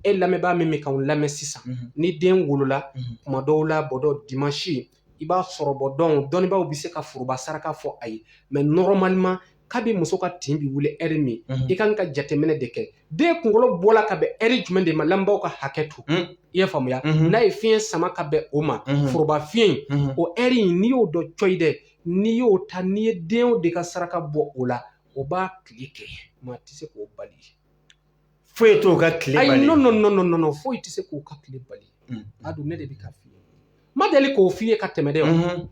e lamɛnbaa min bɛ k'an lamɛn sisan ni den wolola kuma dɔw la bɔn dɔn dimansi i b'a sɔrɔ bɔn dɔn dɔnnibaaw bɛ se ka foroba saraka fɔ a ye mɛ normalement kabi muso ka tin bɛ wuli ɛri min i ka kan ka jateminɛ de kɛ den kunkolo bɔla ka bɛn ɛri jumɛn de ma lamɛnbaaw ka hakɛ to i y'a faamuya n'a ye fiɲɛ sama ka bɛn o ma foroba fiɲɛ o ɛri in n'i y'o dɔn cɔyi dɛ n'i y'o ta n'i ye den de ka saraka bɔ o la o b'a tile kɛ maa tɛ se k'o bali foyi t'o ka tile bali ayi nɔn nɔn foyi tɛ se k'o ka tile bali a dɔn ne de bɛ k'a f'i ye ma deli k'o f'i ye ka tɛmɛ dɛ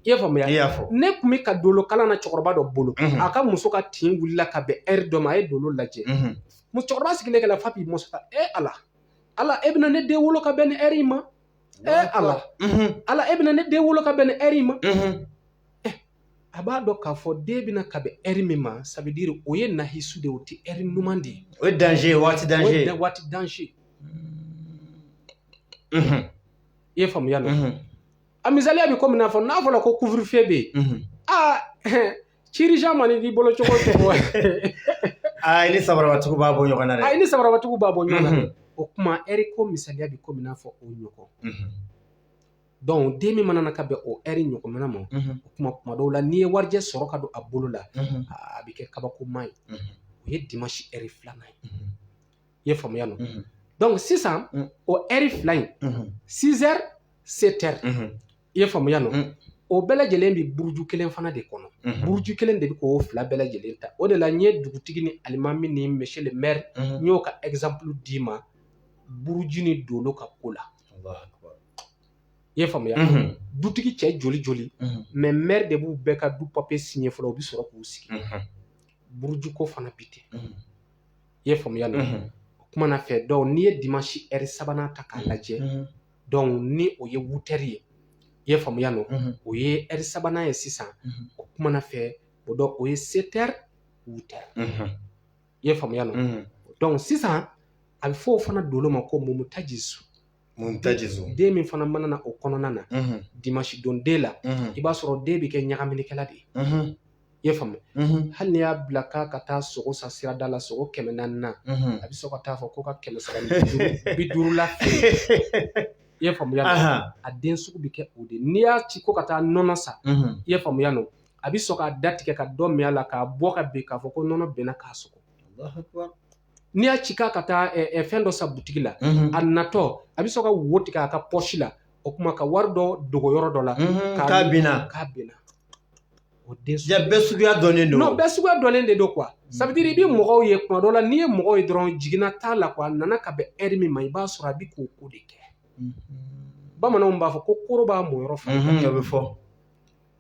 i y'a faamuya nɔ ne tun bɛ ka dolo kalan na cɛkɔrɔba dɔ bolo a ka muso ka tin wulila ka bɛn ɛri dɔ ma a ye dolo lajɛ cɛkɔrɔba sigilen kɛla f'a b'i muso ta e ala ala e bɛna ne den wolo ka bɛn ni ɛri in ma e ala ala e bɛna ne den wolo ka bɛn ni ɛri in ma a b'a dɔn k'a fɔ den bɛ na ka bɛn ɛri min ma ça veut dire o ye nahisu de ye o tɛ ɛri ɲuman de ye o ye danze ye waati danze ye waati danze i ye faamuya nɔ a misaliya bɛ komi n'a fɔ n'a fɔra ko couvre-feu bɛ yen aa ci urgent mana k'i bolo cogo cogo i ni sabarabatigiw b'a bɔ ɲɔgɔn na dɛ i ni sabarabatigiw b'a bɔ ɲɔgɔn na o kuma ɛri ko misaliya bɛ komi n'a fɔ o ɲɔgɔn dɔnku den min mana na ka bɛn o ɛri ɲɔgɔnna ma o kuma kuma dɔw la n'i ye warijɛ sɔrɔ ka don a bolo la a bɛ kɛ kabakoma ye o ye dimansi ɛri filanan ye i ye faamuya nɔ dɔnku sisan o ɛri fila in sizɛri setɛri i ye faamuya nɔ o bɛɛ lajɛlen bɛ buruju kelen fana de kɔnɔ buruju kelen de bɛ k'o fila bɛɛ lajɛlen ta o de la n ye dugutigi ni alimami ni monsieur le maire n y'o ka ɛgizanpulu d'i ma buruju ni dolo ka ko la I ye faamuya dutigi cɛ joli joli mɛ mɛri de b'u bɛɛ ka du papiye siɲɛ fɔlɔ u bɛ sɔrɔ k'u sigi burujuko fana bi ten i ye faamuya nɔ o kuma na fɛ dɔn n'i ye dimansi ɛri sabanan ta k'a lajɛ dɔn ni o ye wutɛri ye i ye faamuya nɔ o ye ɛri sabanan ye sisan o kuma na fɛ o dɔn o ye setɛri wutɛri i ye faamuya nɔ mm. donc sisan a bɛ fɔ o fana dolo ma ko mumutajisu mumutajisu den min fana mana na o kɔnɔna na mm-hmm. dimanche don den la mm-hmm. i b'a sɔrɔ den bɛ kɛ ɲagaminikɛla de ye mm-hmm. i ye faamu hali n'i y'a bila k'a ka taa sogo san sirada la sogo kɛmɛ naani na a bɛ sɔn ka taa fɔ ko ka kɛmɛ saba ni bi duuru la i ye faamuya a den sugu bɛ kɛ o de n'i y'a ci ko ka taa nɔnɔ san i ye faamuya nɔ a bɛ sɔn k'a da tigɛ ka dɔ min a la k'a bɔ ka bin k'a fɔ ko nɔnɔ benna k'a sogo n'i y'a ci k'a ka taa fɛn dɔ san butigi la a natɔ a bɛ sɔn ka wo tigɛ a ka pɔsi la o kuma ka wari dɔ dogo yɔrɔ dɔ la k'a binna k'a binna o den bɛɛ suguya dɔnnen don bɛɛ suguya dɔnnen de don quoi ça veut dire i bɛ mɔgɔw ye kuma dɔ la n'i ye mɔgɔw ye dɔrɔn jiginna t'a la quoi a nana ka bɛn ɛri min ma i b'a sɔrɔ a bɛ k'o ko de kɛ bamananw b'a fɔ ko koro b'a mɔyɔrɔ fɛ a bɛ fɔ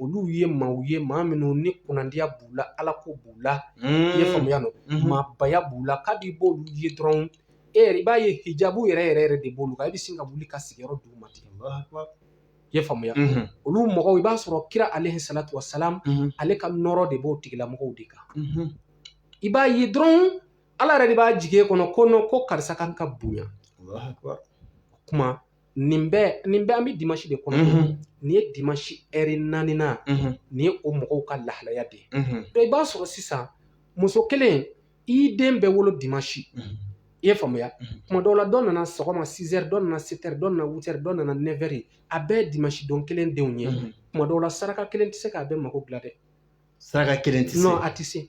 olu ye maaw ye maa minnu ni kunnandiya b'u la alako b'u la i ye faamuya nɔ maabaya b'u la kabi i b'olu ye dɔrɔn e i b'a ye hijabu yɛrɛ yɛrɛ yɛrɛ de b'olu kan i bɛ sin ka wuli ka sigiyɔrɔ d'u ma ten i ye faamuya olu mɔgɔw i b'a sɔrɔ kira alayhi salatu wasalam ale ka nɔɔrɔ de b'o tigilamɔgɔw de kan i b'a ye dɔrɔn ala yɛrɛ de b'a jigin i kɔnɔ ko ko karisa kan ka bonya o kuma nin bɛɛ nin bɛɛ an bɛ dimansi de kɔnɔ nin ye dimansi ɛri naaninan nin ye o mɔgɔw ka lahalaya de ye i b'a sɔrɔ sisan muso kelen i den bɛɛ wolo dimansi i ye faamuya kuma dɔw la dɔ nana sɔgɔma sizɛri dɔ nana setɛri dɔ nana witɛri dɔ nana nɛfɛri a bɛɛ ye dimansi don kelen denw ye kuma dɔw la saraka kelen tɛ se k'a bɛɛ mago dilan dɛ saraka kelen tɛ se non a tɛ se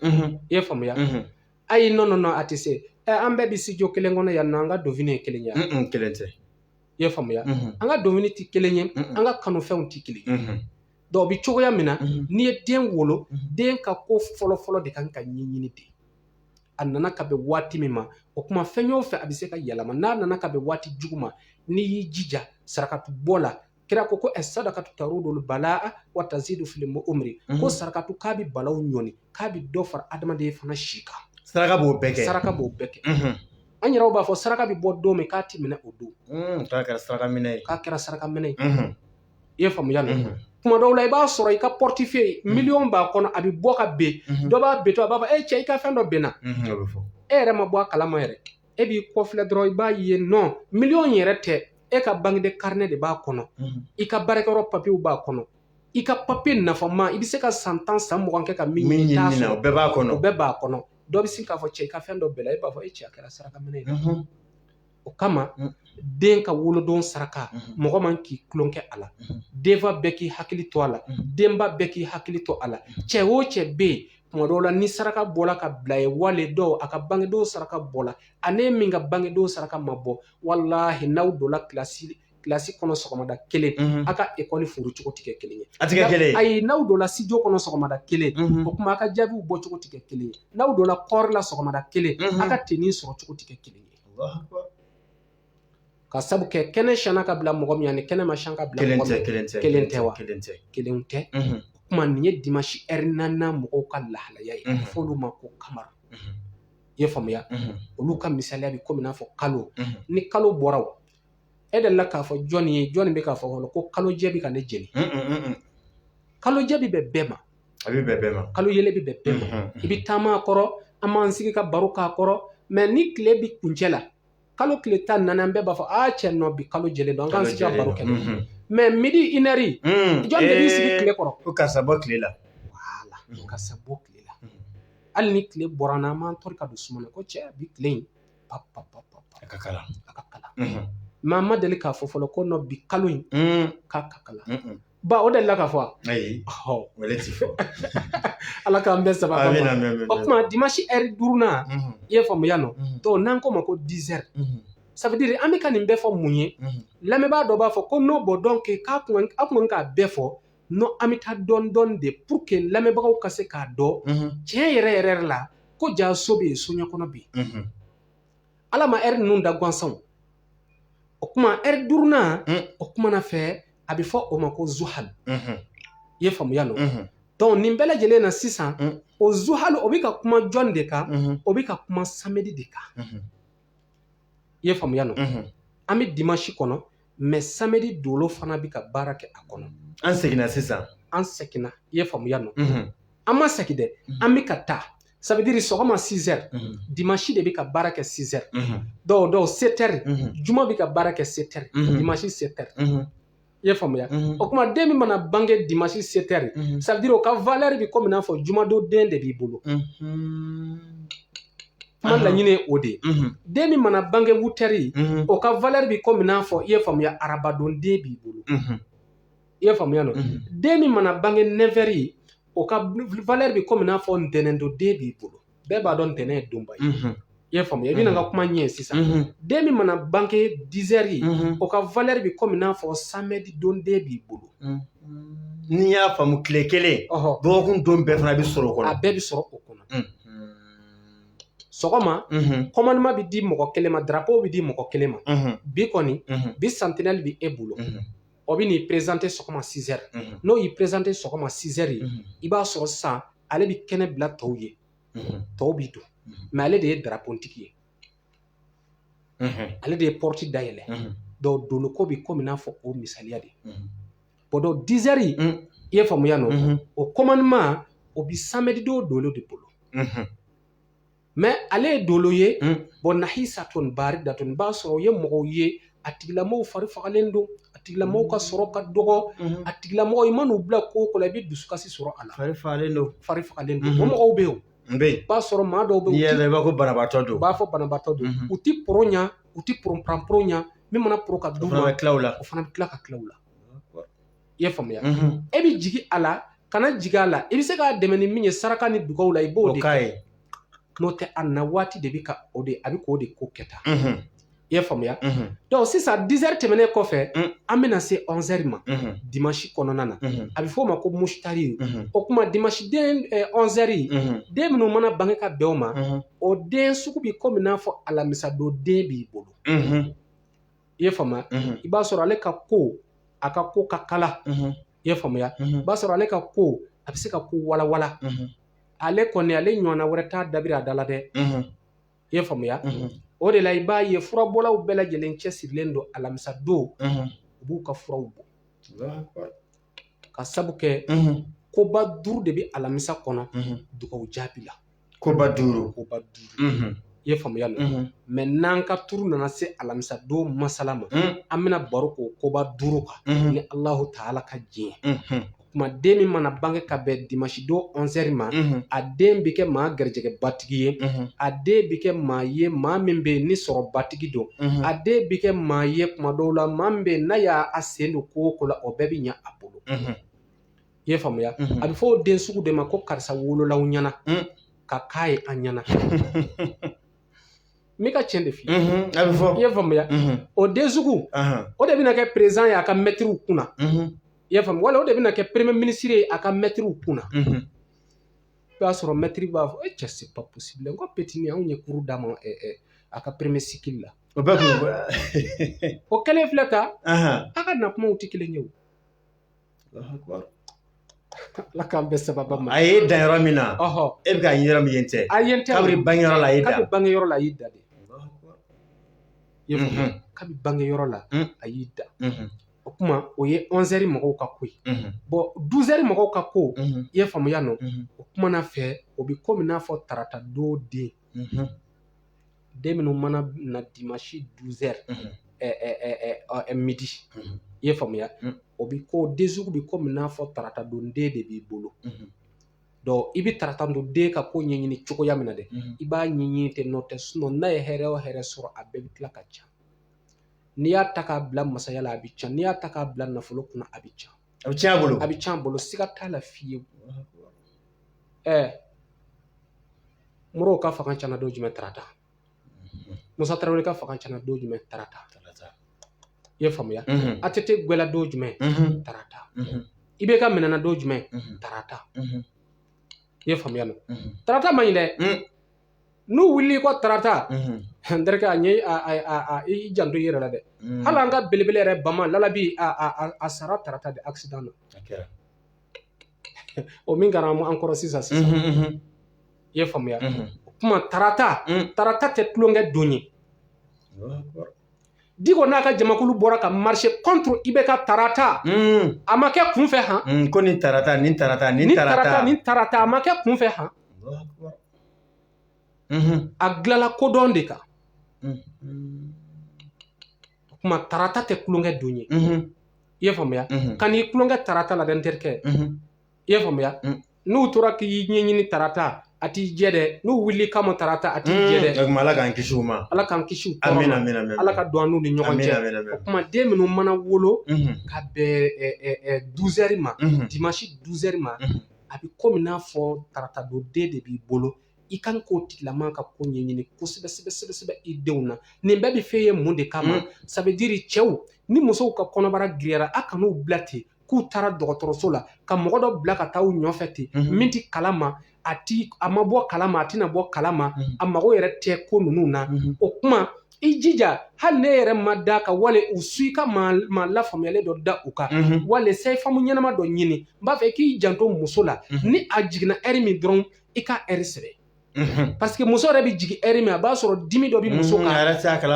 i ye faamuya ayi non non non a tɛ se ɛ an bɛɛ bɛ studio kelen kɔnɔ yan nɔ an ka donfini ye kelen ye wa? Mm-mm, kelen tɛ i ye faamuya Mhm, an ka donfini tɛ kelen ye Mm-mm. an ka kanufɛnw tɛ kelen ye mhm, donc o bɛ cogoya min na mhm. n'i ye den wolo Mhm. den ka ko fɔlɔfɔlɔ de kan ka ɲɛɲini de a nana ka bɛn waati min ma o kuma fɛn o fɛn a bɛ se ka yɛlɛma n'a nana ka bɛn waati jugu ma n'i y'i jija sarakatu bɔ la kira ko ko sadakatu tarudul balaa wa tazidu fil umri ko mhm. sarakatu k'a bɛ balaw ɲɔni k'a bɛ dɔ fara adamaden fana si kan saraka b'o bɛɛ kɛ saraka b'o bɛɛ kɛ mhm. an yɛrɛw b'a fɔ saraka bɛ bɔ don min k'a ti minɛ o don mm, k'a kɛra saraka minɛ ye k'a kɛra saraka minɛ ye mhm. i ye faamuya la kuma dɔw la i b'a sɔrɔ i ka portefeuille miliyɔn b'a kɔnɔ a bɛ bɔ ka ben dɔ b'a bentɔ a b'a fɔ e cɛ i ka fɛn dɔ benna e yɛrɛ ma bɔ a kalama yɛrɛ e b'i kɔfilɛ dɔrɔn i b'a ye non miliyɔn yɛrɛ tɛ e ka banki de karine de b'a kɔnɔ i ka baarakɛyɔrɔ papiyew b'a kɔnɔ i ka papiye nafama i bɛ se ka san tan san mugan kɛ ka min ɲini t'a sɔrɔ o bɛɛ b'a kɔnɔ o bɛɛ b'a kɔnɔ dɔ bɛ sin k'a fɔ cɛ i ka fɛn dɔ binna e b'a fɔ e cɛ a kɛra saraka minɛ ye mhm. o kama mhm. den ka wolodon saraka mhm. mɔgɔ man k'i tulon kɛ a la denfa bɛɛ k'i hakili to a la denba bɛɛ k'i hakili to a la cɛ o cɛ bɛ yen tuma dɔw la ni saraka bɔla ka bila ye wale dɔw a ka bangedon saraka bɔla ani min ka bangedon saraka ma bɔ walahi n'aw donna kilasi kɔnɔ sɔgɔmada kelen a ka ekɔli furu cogo tɛ kɛ kelen ye a tɛ kɛ kelen ye ayi n'aw donna studio kɔnɔ sɔgɔmada kelen o kuma a ka jaabiw bɔ cogo tɛ kɛ kelen ye n'aw donna kɔɔri la sɔgɔmada kelen a ka tenini sɔrɔ cogo tɛ kɛ kelen ye ka sabu kɛ kɛnɛ siyana ka bila mɔgɔ min ani kɛnɛ ma siyan ka bila mɔgɔ min kelen tɛ kelen tɛ wa kelen tɛ kelen tɛ o kuma nin ye dimansi ɛri naaninan mɔgɔw ka lahalaya ye f'olu ma ko kamara i ye faamuya olu ka misaliya bɛ komi n'a fɔ kalo ni kalo bɔra e delila k'a fɔ jɔnni ye jɔnni bɛ k'a fɔ fɔlɔ ko kalo jɛ bɛ ka ne jeni kalo jɛ bɛ bɛn bɛɛ ma a bɛ bɛn bɛɛ ma kalo yeelen bɛ bɛn bɛɛ ma i bɛ taama a kɔrɔ an b'an sigi ka baro k'a kɔrɔ mɛ ni tile bɛ kuncɛ la kalo tile tan ni naani an bɛɛ b'a fɔ a cɛ nɔ bi kalo jɛlen don an k'an sigi ka baro kɛ mhm. mɛ midi inɛri mhm. jɔn de b'i sigi eh, tile kɔrɔ ko karisa bɔ tile la wala mhm. karisa bɔ tile la hali ni tile bɔra n'an m'an tɔri ka don suma na ko cɛ bi tile in pa pa pa pa a ka kalan a ka kalan mɛ an ma deli k'a fɔ fɔlɔ ko nɔ bi kalo in k'a ka kalan Ba o delila ka fɔ wa? Ayi, o yɛrɛ tɛ fɔ. Ala k'an bɛn sababu ma. Amina amina amina. O kuma dimanche heure duurunan. Unhun. I ye faamuya nɔ. Unhun. Donc n'an k'o ma ko 10 heures. Unhun. Ça veut dire an bɛ ka nin bɛɛ fɔ mun ye? Unhun. Lamɛnbaa dɔ b'a fɔ ko non bon donc k'a tun ka aw tun ka kan k'a bɛɛ fɔ non an bɛ taa dɔɔni dɔɔni de pour que lamɛnbagaw ka se k'a dɔn. Unhun. Tiɲɛ yɛrɛ yɛrɛ la ko jaa so bɛ yen soɲɛkɔnɔ bɛ yen. Unhun. ala ma ɛri ninnu da gansanw o kuma ɛri duurunan mm. o kuma na fɛ a bɛ fɔ o ma ko zuhal mm -hmm. i ye faamuya nɔ mm -hmm. donc nin bɛɛ lajɛlen na sisan mm. o zuhal o bɛ ka kuma jɔn de kan mm -hmm. o bɛ ka kuma samedi de kan mm -hmm. i ye faamuya nɔ mm -hmm. an bɛ dimansi kɔnɔ mɛ samedi dolo fana bɛ ka baara kɛ a kɔnɔ an seginna sisan an seginna i ye faamuya nɔ an ma segin dɛ an bɛ ka taa ça veut dire sɔgɔma 6 heures dimanche de bɛ ka baara kɛ 6 heures dɔw dɔw 7 heures juma bɛ ka baara kɛ 7 heures dimanche 7 heures i ye faamuya o kuma den min mana bange dimanche 7 heures ça veut dire o ka valeur bɛ komi n'a fɔ jumadon den de b'i bolo kuma laɲini ye o de ye den min mana bange wutɛri o ka valɛri bi komi n'a fɔ i ye faamuya arabadon den b'i bolo i ye faamuya nɔ den min mana bange nɛfɛri o ka valɛri bi komi n'a fɔ ntɛnɛndon den b'i bolo bɛɛ b'a dɔn ntɛnɛn ye donba ye i y'a faamuya i bɛna n ka kuma ɲɛ sisan den min mana bange dizɛri o ka valɛri bi komi n'a fɔ samɛdi don den b'i bolo n'i y'a faamu tile kelen dɔgɔkun don bɛɛ fana bɛ sɔrɔ o kɔnɔ a bɛɛ bɛ sɔrɔ o kɔnɔ sɔgɔma komandeman bɛ di mɔgɔ kelen ma darapo bɛ di mɔgɔ kelen ma bi kɔni bi santinɛli bɛ e bolo o bɛ n'i perezante sɔgɔma sizɛri n'o y'i perezante sɔgɔma sizɛri i b'a sɔrɔ sisan ale bɛ kɛnɛ bila tɔw ye tɔw b'i don mɛ ale de ye darapotigi ye ale de ye pɔti dayɛlɛ donc doloko bɛ komi n'a fɔ o misaliya de bɔn donc dizɛri i ye faamuya nɔ o komandeman o bɛ samɛdi don dolo de bolo mɛ ale ye dolo ye bɔn nahisatun baridatun i b'a sɔrɔ o ye mɔgɔw ye a tigilamɔgɔ fari fagalen don a tigilamɔgɔ ka sɔrɔ ka dɔgɔ a tigilamɔgɔ i man'u bila ko o ko la i bɛ dusukasi sɔrɔ a la fari fagalen don mɔgɔw bɛ yen N bɛ yen. I b'a sɔrɔ maa dɔw bɛ yen. N'i y'a mɛn i b'a fɔ ko banabaatɔ don. U b'a fɔ banabaatɔ don. U ti poro ɲa, u ti poro pran poro ɲa. Min mana poro ka d'u ma. O fana bɛ tila ka tila u la. I ye faamuya. E bɛ jigin a la, kana jigin a la. I bɛ se k'a dɛmɛ ni min ye saraka ni dugawu la, i b'o de kɛ. N'o tɛ a na waati de bɛ ka o de, a bɛ k'o de ko kɛ tan. i y'a faamuya donc sisan dizɛri tɛmɛnen kɔfɛ an bɛna se ɔnzɛri ma dimansi kɔnɔna na a bɛ fɔ o ma ko musitari o tuma dimansi den ɔnzɛri den minnu mana bange ka bɛn o ma o den sugu bɛ komi n'a fɔ alamisadon den b'i bolo i y'a faamuya i b'a sɔrɔ ale ka ko a ka ko ka kalan i y'a faamuya i b'a sɔrɔ ale ka ko a bɛ se ka ko walawala ale kɔni ale ɲɔgɔnna wɛrɛ t'a dabiri a da la dɛ i ye faamuya o de la i b'a ye furabɔlaw bɛɛ lajɛlen cɛsirilen don alamisa don u b'u ka furaw bɔ k'a sabu kɛ koba duuru de bɛ alamisa kɔnɔ dugawu jaabi la koba duuru koba duuru i ye faamuya nɔ mɛ n'an ka turu nana se alamisa don masala ma an bɛna baro k'o koba duuru kan ni alahu taala ka diɲɛ tuma den min mana bange ka bɛn dimansi don ɔnzɛri ma a den bɛ kɛ maa garijɛgɛbatigi ye a den bɛ kɛ maa ye maa min bɛ yen ni sɔrɔbatigi don a den bɛ kɛ maa ye tuma dɔw la maa min bɛ yen n'a y'a sen don ko o ko la o bɛɛ bɛ ɲɛ a bolo i ye faamuya a bɛ fɔ o den sugu de ma ko karisa wololaw ɲɛna ka k'a ye an ɲɛna n bɛ ka tiɲɛ de f'i ye a bɛ fɔ i ye faamuya o den sugu o de bɛna kɛ perezidan ye a ka mɛtiriw kunna i y'a faamu wala o de bɛna kɛ premier ministre ye a ka mɛtiriw kun na i b'a sɔrɔ mɛtiri b'a fɔ e cɛ c'est pas possible n ko petit nin anw ye cours d'a ma a ka premier cycle la o bɛɛ kun o kɛlen filɛ ka a ka na kumaw tɛ kelen ye o ala k'an bɛn sababa ma a ye dan yɔrɔ min na e bɛ k'a ɲini yɔrɔ min yen tɛ a yen tɛ kabiri bange yɔrɔ la a y'i da kabiri bange yɔrɔ la a y'i da de kabi bange yɔrɔ la a y'i da o kuma o ye onze heures mɔgɔw ka ko ye bon douze heures mɔgɔw ka ko i ye faamuya nɔ o kuma na fɛ o bɛ komi n'a fɔ tarata don den den minnu mana na dimanche douze heures midi i ye faamuya o bɛ ko den sugu bɛ komi n'a fɔ tarata don den de b'i bolo donc i bɛ tarata don den ka ko ɲɛɲini cogoya min na dɛ i b'a ɲɛɲini ten nɔntɛ sinon n'a ye hɛrɛ o hɛrɛ sɔrɔ a bɛɛ bɛ tila ka can n'i y'a ta k'a bila masaya la a bɛ can n'i y'a ta k'a bila nafolo kunna a bɛ can a bɛ tiɲɛ a bolo a bɛ can a bolo siga t'a la fiyewu ɛɛ modibo ka fanga cana don jumɛn tarata musa tarawele ka fanga cana don jumɛn tarata i ye faamuya Mhm, ATT gwɛla don jumɛn mhm, tarata mhm, IBK minɛna don jumɛn mhm, tarata mhm, i ye faamuya nɔ mhm. tarata man ɲi dɛ Mm. n'u wulili ko tarata n terikɛ a ɲɛ i janto i yɛrɛ la dɛ hali an ka belebele yɛrɛ bama lalabi a sara tarata de accident na o min kɛra an kɔrɔ sisan sisan i ye faamuya o kuma tarata tarata tɛ tulonkɛ don ye diko n'a ka jamakulu bɔra ka marcher contre IBK tarata a ma kɛ kunfɛ han ko ni tarata a ma kɛ kunfɛ han a dilanla kodɔn de kan o kuma tarata tɛ tulonkɛ don ye i y'a faamuya kan'i tulonkɛ tarata la dɛ n terikɛ i y'a faamuya n'u tora k'i ɲɛɲini tarata a t'i jɛ dɛ n'u wulil'i kama tarata a t'i jɛ dɛ ala k'an kisi u ma ala k'an kisi u tɔɔrɔ ma ala ka don an n'u ni ɲɔgɔn cɛ o kuma den minnu mana wolo ka bɛn douze heures ma dimanche douze heures ma a bɛ komi n'a fɔ tarata don den de b'i bolo i kan k'o tigilama ka ko ɲɛɲini kosɛbɛ sɛbɛ sɛbɛ sɛbɛ i denw na nin bɛɛ bɛ f'e ye mun de kama mm. ça veut dire cɛw ni musow ka kɔnɔbara giriyara a kan'u bila ten k'u taara dɔgɔtɔrɔso la ka mɔgɔ dɔ bila ka taa u ɲɔfɛ ten mm-hmm. min tɛ kala ma a ti a ma bɔ kala ma a tɛna bɔ kala ma mm-hmm. a mago yɛrɛ tɛ ko ninnu na mm-hmm. o kuma i jija hali n'e yɛrɛ ma da ka wale u su i ka maa lafaamuyalen dɔ da u kan Mhm. wala sage-femme ɲɛnama dɔ ɲini n b'a fɛ i k'i janto muso la Mhm. ni a jiginna ɛri min dɔrɔn i ka ɛri sɛbɛn Mhm. parce que muso yɛrɛ bɛ jigin ɛri min a b'a sɔrɔ dimi dɔ bɛ muso kan Mhm,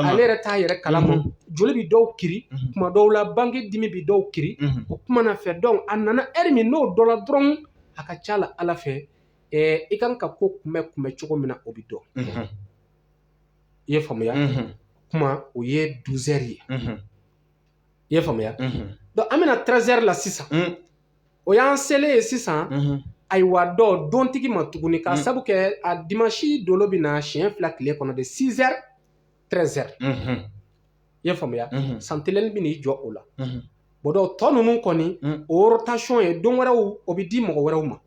ale yɛrɛ t'a yɛrɛ kalama Mhm. joli bɛ dɔw kiri Mhm. kuma dɔw la bange dimi bɛ dɔw kiri Mhm. o kuma na fɛ donc a nana ɛri min n'o dɔnna dɔrɔn a ka ca la ala fɛ ɛɛ i kan ka ko kunbɛ kunbɛ cogo min na o bɛ dɔn Mhm. i ye faamuya kuma o ye 12 heures ye i ye faamuya donc an bɛna 13 heures la sisan o y'an selen ye sisan ayiwa donc dontigi ma tuguni ka sabu kɛ a dimanche dolo bɛ na siɲɛ fila tile kɔnɔ de 6 heures 13 heures i ye faamuya sentinelle bɛ n'i jɔ o la bon donc tɔ ninnu kɔni o rotation ye don wɛrɛw o bɛ di mɔgɔ wɛrɛw ma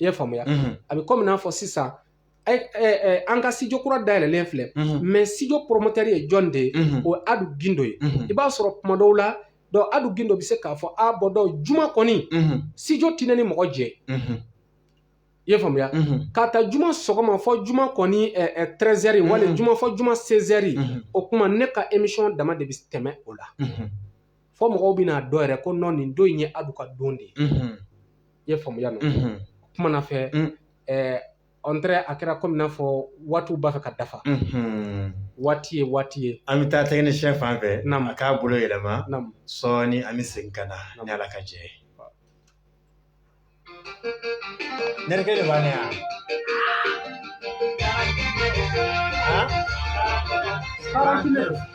i ye faamuya a bɛ kɔmi n'a fɔ sisan an ka studio kura dayɛlɛlen filɛ mais studio promoteur ye jɔn de ye o ye Adu Gindo ye i b'a sɔrɔ kuma dɔw la donc Adu Gindo bɛ se k'a fɔ a bon donc juma kɔni studio tɛ ne ni mɔgɔ jɛ i ye faamuya k'a ta juma sɔgɔma fɔ juma kɔni 13 heures wali juma fɔ juma 16 heures o kuma ne ka émission dama de bɛ tɛmɛ o la fɔ mɔgɔw bɛna a dɔn yɛrɛ ko non nin don in ye Adu ka don de ye i ye faamuya n'o kumana fɛ ɛɛ ɔntɛrɛ a kɛra komi n'a fɔ waatiw b'a fɛ ka dafa Mhm. waati ye waati ye an bɛ taa technicien fan fɛ Naamu. a k'a bolo yɛlɛma Naamu. sɔɔni an bɛ segin ka na Naamu. ni ala ka jɛ ye nɛrɛkɛ de b'a ne yan Karantinɛ.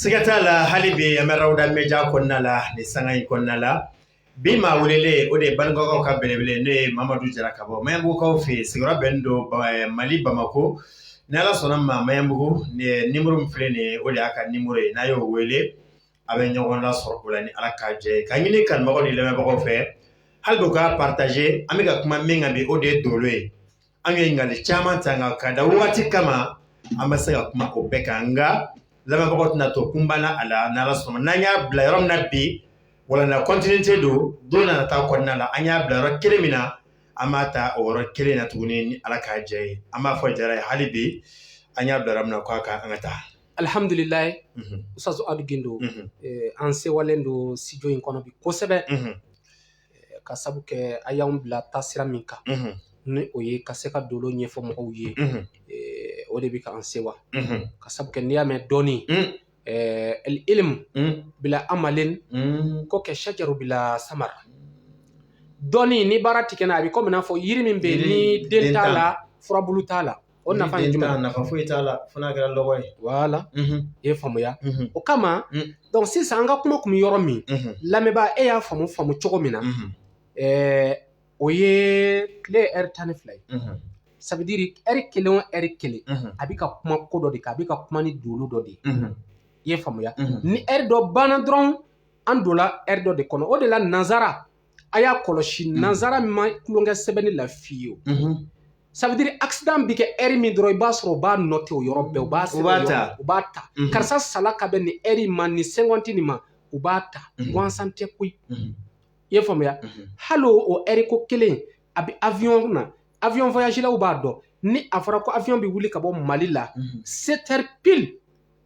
Siga t'a la hali bi an bɛ Rawda Media kɔnɔna la ni sanga in kɔnɔna la bi maa welelen o de ye Banikɔkaw ka belebele n'o ye mamadu jara ka bɔ Maɲanbugukaw fɛ yen sigiyɔrɔ bɛnnen don mali bamakɔ ni ala sɔnna a ma Maɲanbugu numéro min filɛ nin ye o de y'a ka numéro ye n'a y'o wele a bɛ ɲɔgɔn lasɔrɔ o la ni ala ka jɛ ka ɲini kanubagaw ni lamɛnbagaw fɛ hali bi u ka partager an bɛ ka kuma min kan bi o de ye dolo ye an ye ɲininkali caman ta nka ka da wagati kama an bɛ se ka kuma o bɛɛ kan nka lamɛnbagaw tɛna to kunpan na a la n'ala sɔnna n'an y'a bila yɔrɔ min na bi walanda continuité don don na nataw kɔnɔna la an y'a bila yɔrɔ kelen min na an b'a ta o yɔrɔ kelen na tuguni ni ala ka jɛ ye an b'a fɔ jara ye hali bi an y'a bila yɔrɔ min na k'a ka an ka taa alhamdulilayi Mhm, ustazu adu gindo mhm, eh, an sewalen don studio in kɔnɔ bi kosɛbɛ mhm. Ka sabu kɛ a y'an bila taasira min kan ni o ye ka se ka dolo ɲɛfɔ mɔgɔw ye o de bɛ k'an sewa ka sabu kɛ n'i y'a mɛn dɔnni alilimu bila amalin ko kashajari bila samar dɔnni ni baara tɛ kɛ n'a a bɛ komi n'a fɔ yiri min bɛ ni den t'a la furabulu t'a la O nafa ye jumɛn ye? nafa foyi t'a la fo n'a kɛra lɔgɔ ye. voilà i ye faamuya. O kama donc sisan an ka kuma kun bɛ yɔrɔ min lamɛnbaa e y'a faamu faamu cogo min na o ye tile ɛri tan ni fila ye ça veut dire ɛri kelen o ɛri kelen a bɛ ka kuma ko dɔ de kan a bɛ ka kuma ni dolo dɔ de ye i ye faamuya ni ɛri dɔ banna dɔrɔn an donna ɛri dɔ de kɔnɔ o de la nansara a y'a kɔlɔsi mm. nanzara ma tulonkɛ sɛbɛnni la fiyewu mm-hmm. ça veut dire accident bɛ kɛ ɛri min dɔrɔn i b'a sɔrɔ u b'a nɔte o yɔrɔ bɛɛ u b'a ta mm-hmm. karisa sala ka bɛn nin ɛri ma nin segɔndi nin ma u b'a ta mm-hmm. gansan tɛ koyi i ye faamuya hali o ɛri ko kelen a bɛ avion na avion voyagelaw b'a dɔn ni a fɔra ko avion bɛ wuli ka bɔ mali la sept heures pile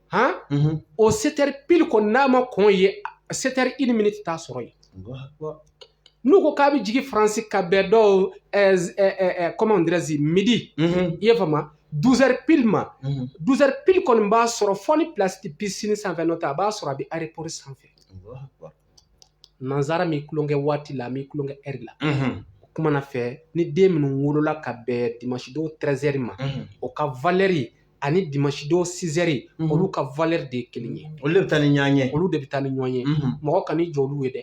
han mhm. o setɛri pili kɔni n'a ma kɔn yen setɛri ini miniti t'a sɔrɔ yen n'u ko k'a bɛ jigin faransi ka bɛn dɔw kɔman dirɛzi midi mhm. i ye faamuya duzɛri pili ma duzɛri mhm. pili kɔni b'a sɔrɔ fo ni pilasi tɛ pisini sanfɛ n'o tɛ a b'a sɔrɔ a bɛ aeropɔri sanfɛ nanzara mi kulonkɛ waati la mi kulonkɛ ɛri la o kuma na fɛ ni den minnu wolola ka bɛn dimansidon tɛrɛzɛri ma o ka valɛri ani dimansidon sizɛri olu ka valɛri de ye kelen ye olu de bɛ taa ni ɲɔgɔn ye olu de bɛ taa ni ɲɔgɔn ye mɔgɔ kan'i jɔ olu ye dɛ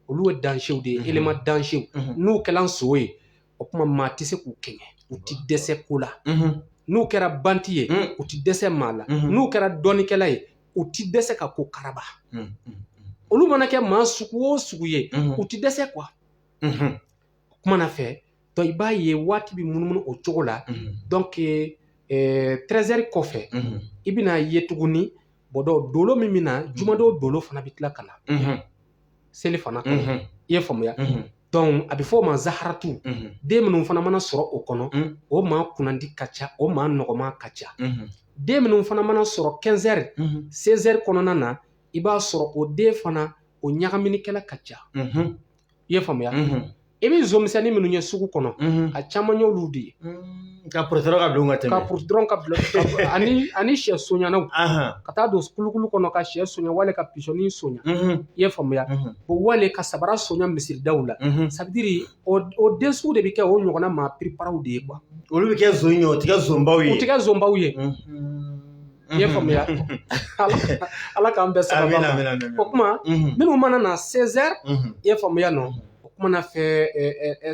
olu ye dansew de ye elema dansew n'u kɛla nson ye o kuma maa tɛ se k'u kɛɲɛ u ti dɛsɛ ko la n'u kɛra banti ye u ti dɛsɛ maa la n'u kɛra dɔnnikɛla ye u ti dɛsɛ ka ko karaba olu mana kɛ maa sugu o sugu ye u ti dɛsɛ kuwa o kuma na fɛ dɔnke i b'a ye waati bɛ munumunu o cogo la dɔnke trɛzɛri kɔfɛ i bɛna ye tuguni bɔdɔ dolo min bɛ na jumadon dolo fana bɛ tila ka na selifana kɔnɔ mhm. i ye faamuya mhm. donc a bɛ fɔ o ma zaharatu mhm. den minnu fana mana sɔrɔ o kɔnɔ o maa kunnandi ka ca o maa nɔgɔma ka ca den minnu fana mana sɔrɔ 15 heures 16 heures kɔnɔna na i b'a sɔrɔ o den fana o ɲagaminikɛla ka ca i ye faamuya I bɛ zomisɛnnin minnu ye sugu kɔnɔ a caman y'olu de ye ka purutɔ ka don ka tɛmɛ ka purutɔ ka bila ani shɛ sonyanaw ka taa don kulukulu kɔnɔ ka shɛ sonya wale ka pisɔnni sonya i ye faamuya o wale ka sabara sonya misiridaw la sabidiri o den sugu de bɛ kɛ o ɲɔgɔnna maa piriparaw de ye kuwa olu bɛ kɛ son ye u tɛ kɛ sonbaw ye u tɛ kɛ sonbaw ye I ye faamuya ala k'an bɛɛ sara o kuma minnu mana na sɛzɛri i ye faamuya nɔ o kuma na fɛ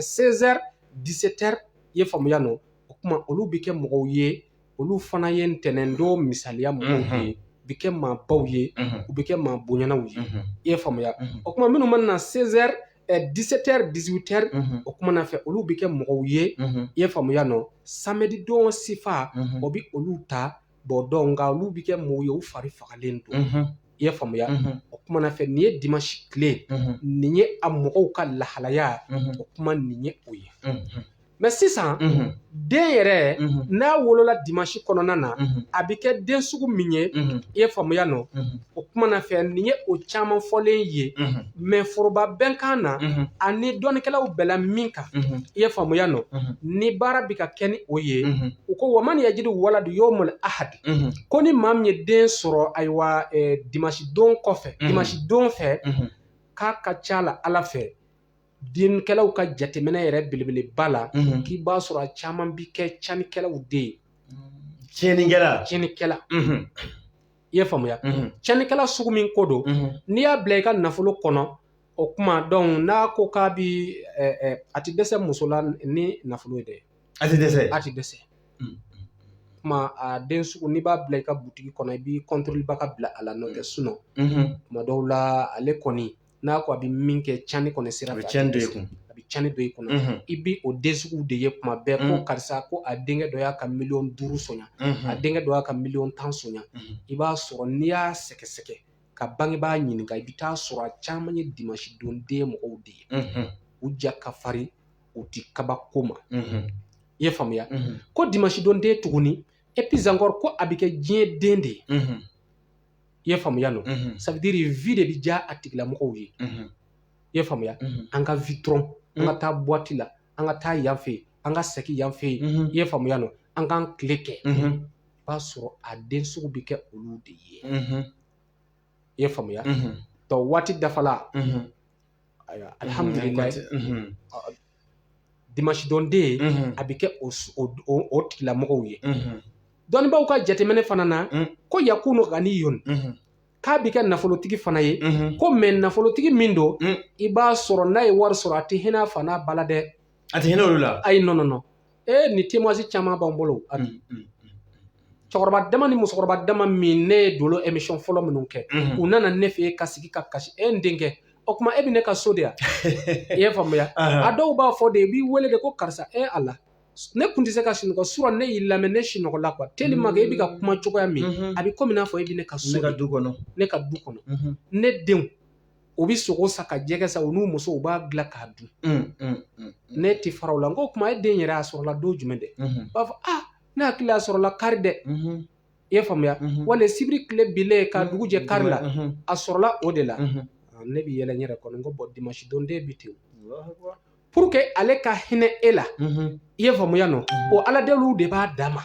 sɛzɛri disɛtɛri i ye faamuya nɔ o kuma olu bɛ kɛ mɔgɔw ye olu fana ye ntɛnɛn don misaliya mɔgɔw ye u bɛ kɛ maabaw ye u bɛ kɛ maa bonyanaw ye i ye faamuya o kuma minnu mana na sɛri ɛ disetɛri dizwitɛri Mhm. o kumana fɛ olu bɛ kɛ mɔgɔw ye Mhm. i ye faamuya nɔ samedi don sifa Mhm. o bɛ olu ta bɔ donc nka olu bɛ kɛ mɔgɔw ye u fari fagalen don Mhm. i ye faamuya Mhm. o kumana fɛ nin ye dimansi tile Mhm. nin ye a mɔgɔw ka lahalaya Mhm. o kuma nin ye o ye Mhm. mɛ sisan den yɛrɛ n'a wolola dimansi kɔnɔna na a bɛ kɛ den sugu min ye i ye faamuya nɔ o kuma na fɛ nin ye o caman fɔlen ye mɛ foroba bɛnkan na ani dɔnnikɛlaw bɛɛ la min kan i ye faamuya nɔ ni baara bɛ ka kɛ ni o ye u ko wa man yajidu waladu yawmal ahadi ko ni maa min ye den sɔrɔ ayiwa dimansi don kɔfɛ dimansi don fɛ k'a ka ca la ala fɛ dɔnnikɛlaw ka jateminɛ yɛrɛ belebeleba la k'i b'a sɔrɔ a caman bi kɛ cɛnnikɛlaw de ye tiɲɛnikɛla tiɲɛnikɛla i ye faamuya tiɲɛnikɛla sugu min ko don n'i y'a bila i ka nafolo kɔnɔ o kuma donc n'a ko k'a bi a tɛ dɛsɛ muso la ni nafolo ye dɛ a tɛ dɛsɛ a tɛ dɛsɛ kuma a den sugu n'i b'a bila i ka butigi kɔnɔ i b'i kɔntɔrɔliba ka bila a la n'o tɛ sinon kuma dɔw la ale kɔni n'a ko a bɛ min kɛ cɛnni kɔni sira fɛ a bɛ cɛnni don i kun a bɛ cɛnni don i kunna i bɛ o den sugu de ye kuma bɛɛ ko karisa ko a denkɛ dɔ y'a ka miliyɔn duuru sɔnya a denkɛ dɔ y'a ka miliyɔn tan sɔnya i b'a sɔrɔ n'i y'a sɛgɛsɛgɛ ka bangebaa ɲininka i bɛ taa sɔrɔ a caman ye dimansi don den mɔgɔw de ye u ja ka farin u ti kabako ma i ye faamuya ko dimansi don den tuguni et puis encore ko a bɛ kɛ diɲɛ den de ye i ye faamuya nɔ ça veut dire vie de bɛ diya a tigilamɔgɔw ye i ye faamuya an ka vie dɔrɔn an ka taa buwati la an ka taa yan fɛ an ka segin yan fɛ yen i ye faamuya nɔ an k'an tile kɛ i b'a sɔrɔ a den sugu bɛ kɛ olu de ye i ye faamuya donc waati dafala alihamudulila dimansi don den a bɛ kɛ o tigilamɔgɔw ye dɔnnibaw ka jateminɛ fana na ko yakunu ganiyun k'a bɛ kɛ nafolotigi fana ye ko mɛ nafolotigi min don i b'a sɔrɔ n'a ye wari sɔrɔ a tɛ hinɛ a fa n'a ba la dɛ a tɛ hinɛ olu la ayi nɔ nɔ e ni témoignage caman b'an bolo a bi cɛkɔrɔba dama ni musokɔrɔba dama min ne ye dolo emission fɔlɔ minnu kɛ u nana ne fɛ ka sigi ka kasi e n denkɛ o kuma e bɛ ne ka so de yan i ye faamuya a dɔw b'a fɔ de i b'i wele de ko karisa e ala ne kun tɛ se ka sunɔgɔ sura ne y'i lamɛn ne sunɔgɔla quoi tellement que e bɛ ka kuma cogoya min a bɛ komi n'a fɔ e bɛ ne ka so ne ka du kɔnɔ ne ka du kɔnɔ ne denw u bɛ sogo san ka jɛgɛ san u n'u musow b'a dilan k'a dun ne tɛ fara u la n ko o kuma e den yɛrɛ a sɔrɔla don jumɛn dɛ u b'a fɔ aa ne hakili a sɔrɔla kari dɛ i y'a faamuya wali sibiri tile bilen ka dugu jɛ kari la a sɔrɔla o de la ne bɛ yɛlɛ n yɛrɛ kɔnɔ n ko bɔn dimanche don den bɛ ten pour que ale ka hinɛ e la i ye faamuya non o aladeliw de b'a dama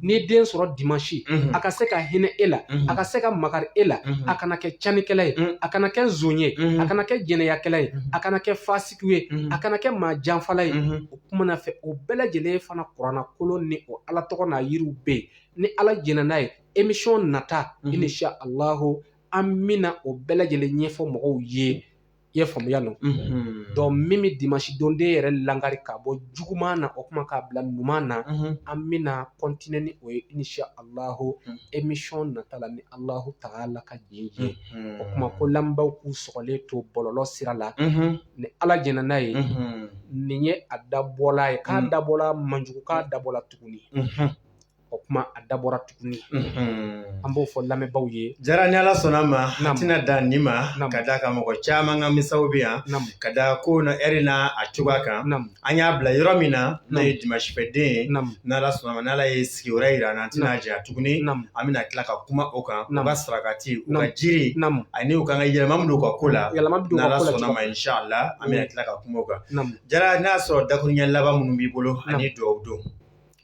ni den sɔrɔ dimanche a ka se ka hinɛ e la a ka se ka makari e la a kana kɛ canikɛla ye a kana kɛ zon ye a kana kɛ jɛnɛyakɛla ye a kana kɛ fasiki ye a kana kɛ maa janfala ye o kuma na fɛ o bɛɛ lajɛlen fana kurana kolo ni o ala tɔgɔ n'a yiriw bɛ yen ni ala jɛnna n'a ye émission nata inshallahu an bɛna o bɛɛ lajɛlen ɲɛfɔ mɔgɔw ye I ye faamuya non donc min bɛ dimanche don den yɛrɛ lakari ka bɔ juguman na o kuma k'a bila ɲuman na an bɛna continuer ni o ye inshallahu émission nata la ni allahu ta'ala ka jɛn ye o kuma ko lamɛnbaaw k'u sɔgɔlen to bɔlɔlɔ sira la ni ala jɛnna n'a ye nin ye a dabɔla ye k'a dabɔla man jugu k'a dabɔla tuguni o kuma a dabɔra tuguni an b'o fɔ lamɛnbaaw ye jara ni ala sɔnna ma a tɛna dan nin ma k'a d'a kan mɔgɔ caman ka misaw bɛ yan ka da ko na eri n na a cogoya kan an y'a bila yɔrɔ min na n'o ye dimanche fɛ den ye n'ala sɔnna ma n'ala ye sigi wɛrɛ jira an na an tɛna jɛ tuguni an bɛna tila ka kuma o kan u ka sarakati u ka jiri ani u ka kan ka yɛlɛma min don u ka ko la n'ala sɔnna ma inshallah an bɛna tila ka kuma o kan jara n'a y'a sɔrɔ dakuruɲɛ laban minnu b'i bolo ani dugaw don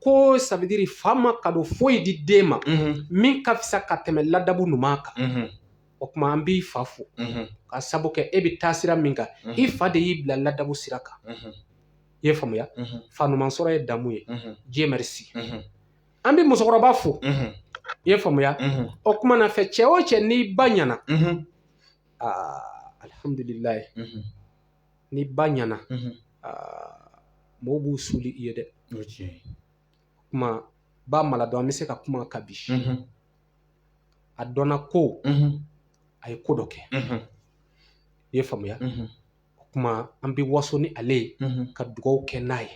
ko ça veut dire fa ma kado foyi di den ma min ka fisa ka tɛmɛ ladabu ɲuman kan o kuma an b'i fa fo k'a sabu kɛ e bɛ taa sira min kan i fa de y'i bila ladabu sira kan i ye faamuya fa ɲuman sɔrɔ ye damu ye Dieu merci an bɛ musokɔrɔba fo i ye faamuya o kuma na fɛ cɛ o cɛ n'i ba ɲɛna aa alihamdulilayi ni ba ɲɛna mɔgɔw b'u suli i ye dɛ o kuma ba mara dɔn an bɛ se ka kuma kabi a dɔnna ko a ye ko dɔ kɛ i ye faamuya o kuma an bɛ waso ni ale ye ka dugaw kɛ n'a ye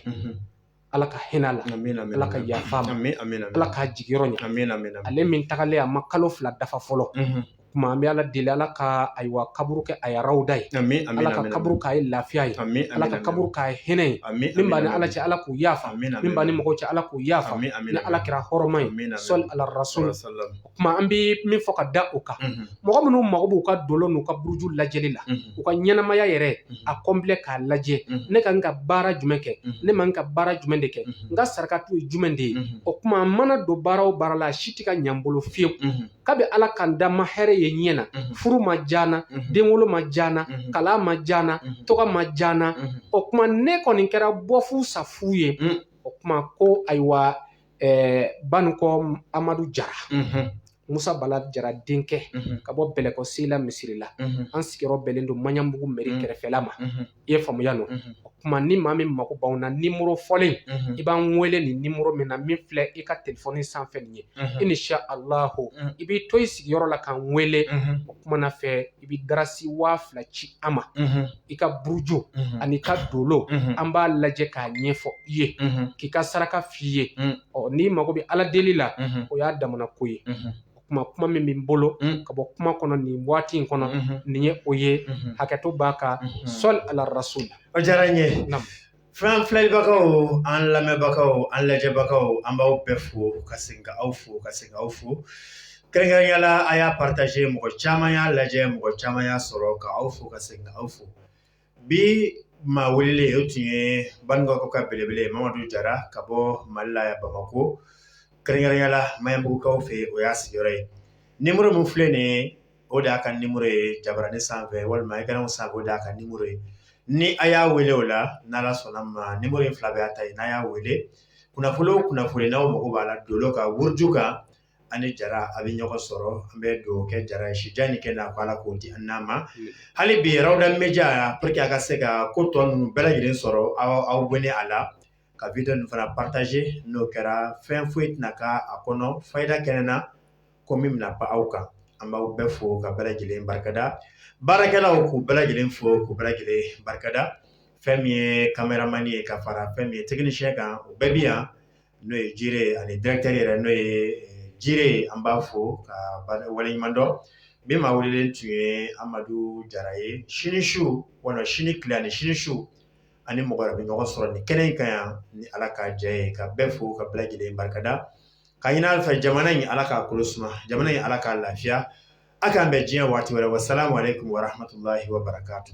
Ala ka hinɛ a la, amina, amina, Ala ka yafa a ma, amina, amina, Ala k'a jigiyɔrɔ ɲɛ, amina, amina, ale min tagalen a ma kalo fila dafa fɔlɔ, unhun, kuma an bɛ Ala deli Ala ka ayiwa kaburu kɛ a ye arawuda ye, amin, amin, Ala ka kaburu k'a ye lafiya ye, amin, Ala ka kaburu k'a ye hinɛ ye, amin, min b'a ni Ala cɛ Ala k'o yafa, amin, min b'a ni mɔgɔw cɛ Ala k'o yafa, amin, amin, ni Ala kira hɔrɔma ye, amin, amin, sɔli ala rasuli, salala salama. kuma an bɛ min fɔ ka da o kan mɔgɔ minnu mago b'u ka dolo n'u ka buruju lajɛli la u ka ɲɛnamaya yɛrɛ a kɔnplɛ k'a lajɛ ne kan ka baara jumɛn kɛ ne man ka baara jumɛn de kɛ n ka saraka tun ye jumɛn de ye o kuma mana don baara o baara la a si tɛ ka ɲɛ n bolo fiyewu kabi ala ka n da n ma hɛrɛ ye n ɲɛ na furu ma diya n na denwolo ma diya n na kalan ma diya n na tɔgɔ ma diya n na o kuma ne kɔni kɛra bɔfu safu ye o kuma ko ayiwa banikɔ amadu jara musa bala jara denkɛ ka bɔ bɛlɛkɔ sela misiri la an sigiyɔrɔ bɛnnen don maɲanbugu mɛri kɛrɛfɛla ma i ye faamuya o kuma ni maa min mako b'anw na nimero fɔlen i b'an wele nin nimero min na min filɛ i ka telefɔni sanfɛ nin ye inisalahu i b'i to i sigiyɔrɔ la k'an wele o kuma na fɛ i bɛ darasi waa fila ci an ma i ka buruju an'i ka dolo an b'a lajɛ k'a ɲɛfɔ i ye k'i ka saraka f'i ye ɔ n'i mago bɛ ala deli la o y'a damana ko ye o kuma kuma min bɛ n bolo ka bɔ kuma kɔnɔ nin waati in kɔnɔ nin ye o ye hakɛto b'a kan sɔli ala rasul o diyara n ye An filɛlibagaw an lamɛnbagaw an lajɛbagaw an b'aw bɛɛ fo ka segin ka aw fo ka segin aw fo kɛrɛnkɛrɛnya la a y'a partaze mɔgɔ caman y'a lajɛ mɔgɔ caman y'a sɔrɔ ka aw fo ka segin ka aw fo bi maa welelen o tun ye banikɔ ka belebele mamadu jara ka bɔ mali la bamakɔ kɛrɛnkɛrɛnya la maɲanbugu kan fɛ o y'a sigiyɔrɔ ye nimero min filɛ nin ye o de y'a ka nimero ye jabarani sanfɛ walima ekran sanfɛ o de y'a ka nimero ye ni a y'a wele o la n'ala sɔnna ma nimero in fila bɛ a ta ye n'a y'a wele kunnafoni o kunnafoni n'aw mako b'a la dolo kan buruju kan a ni jara a bɛ ɲɔgɔn sɔrɔ an bɛ dugawu kɛ jara ye si jan ni kɛnɛya ko ala k'o di an n'a ma hali bi rawda media pour que a ka se ka ko tɔ ninnu bɛɛ lajɛlen sɔrɔ aw abɔne a la ka wideyo ninnu fana partaze n'o kɛra fɛn foyi tɛna k'a kɔnɔ fayida kɛnɛ na ko min bɛna pan aw kan an b'aw bɛɛ fo ka bɛɛ lajɛlen barikada baarakɛlaw k'u bɛɛ lajɛlen fo k'u bɛɛ lajɛlen barikada fɛn min ye kameramani ye ka fara fɛn min ye tɛkinisiyɛn kan o bɛɛ bɛ yan n'o ye jire ani dirɛkitɛri yɛrɛ n'o ye eh, jire an b'a fo k'a waleɲuman dɔn bi maa welelen tun ye amadu jara ye sini su walima sini tile ani sini su an ni mɔgɔ wɛrɛ bɛ ɲɔgɔn sɔrɔ nin kɛnɛ in kan yan ni ala ka jɛ ye ka bɛɛ fo ka bɛɛ lajɛlen barikada k'a ɲini ala fɛ jamana in ala k'a kolo suma jamana in ala k'a lafiya a k'an bɛn diya waati wɛrɛ wa salamu alayikum wa rahamatulahi wa barakatu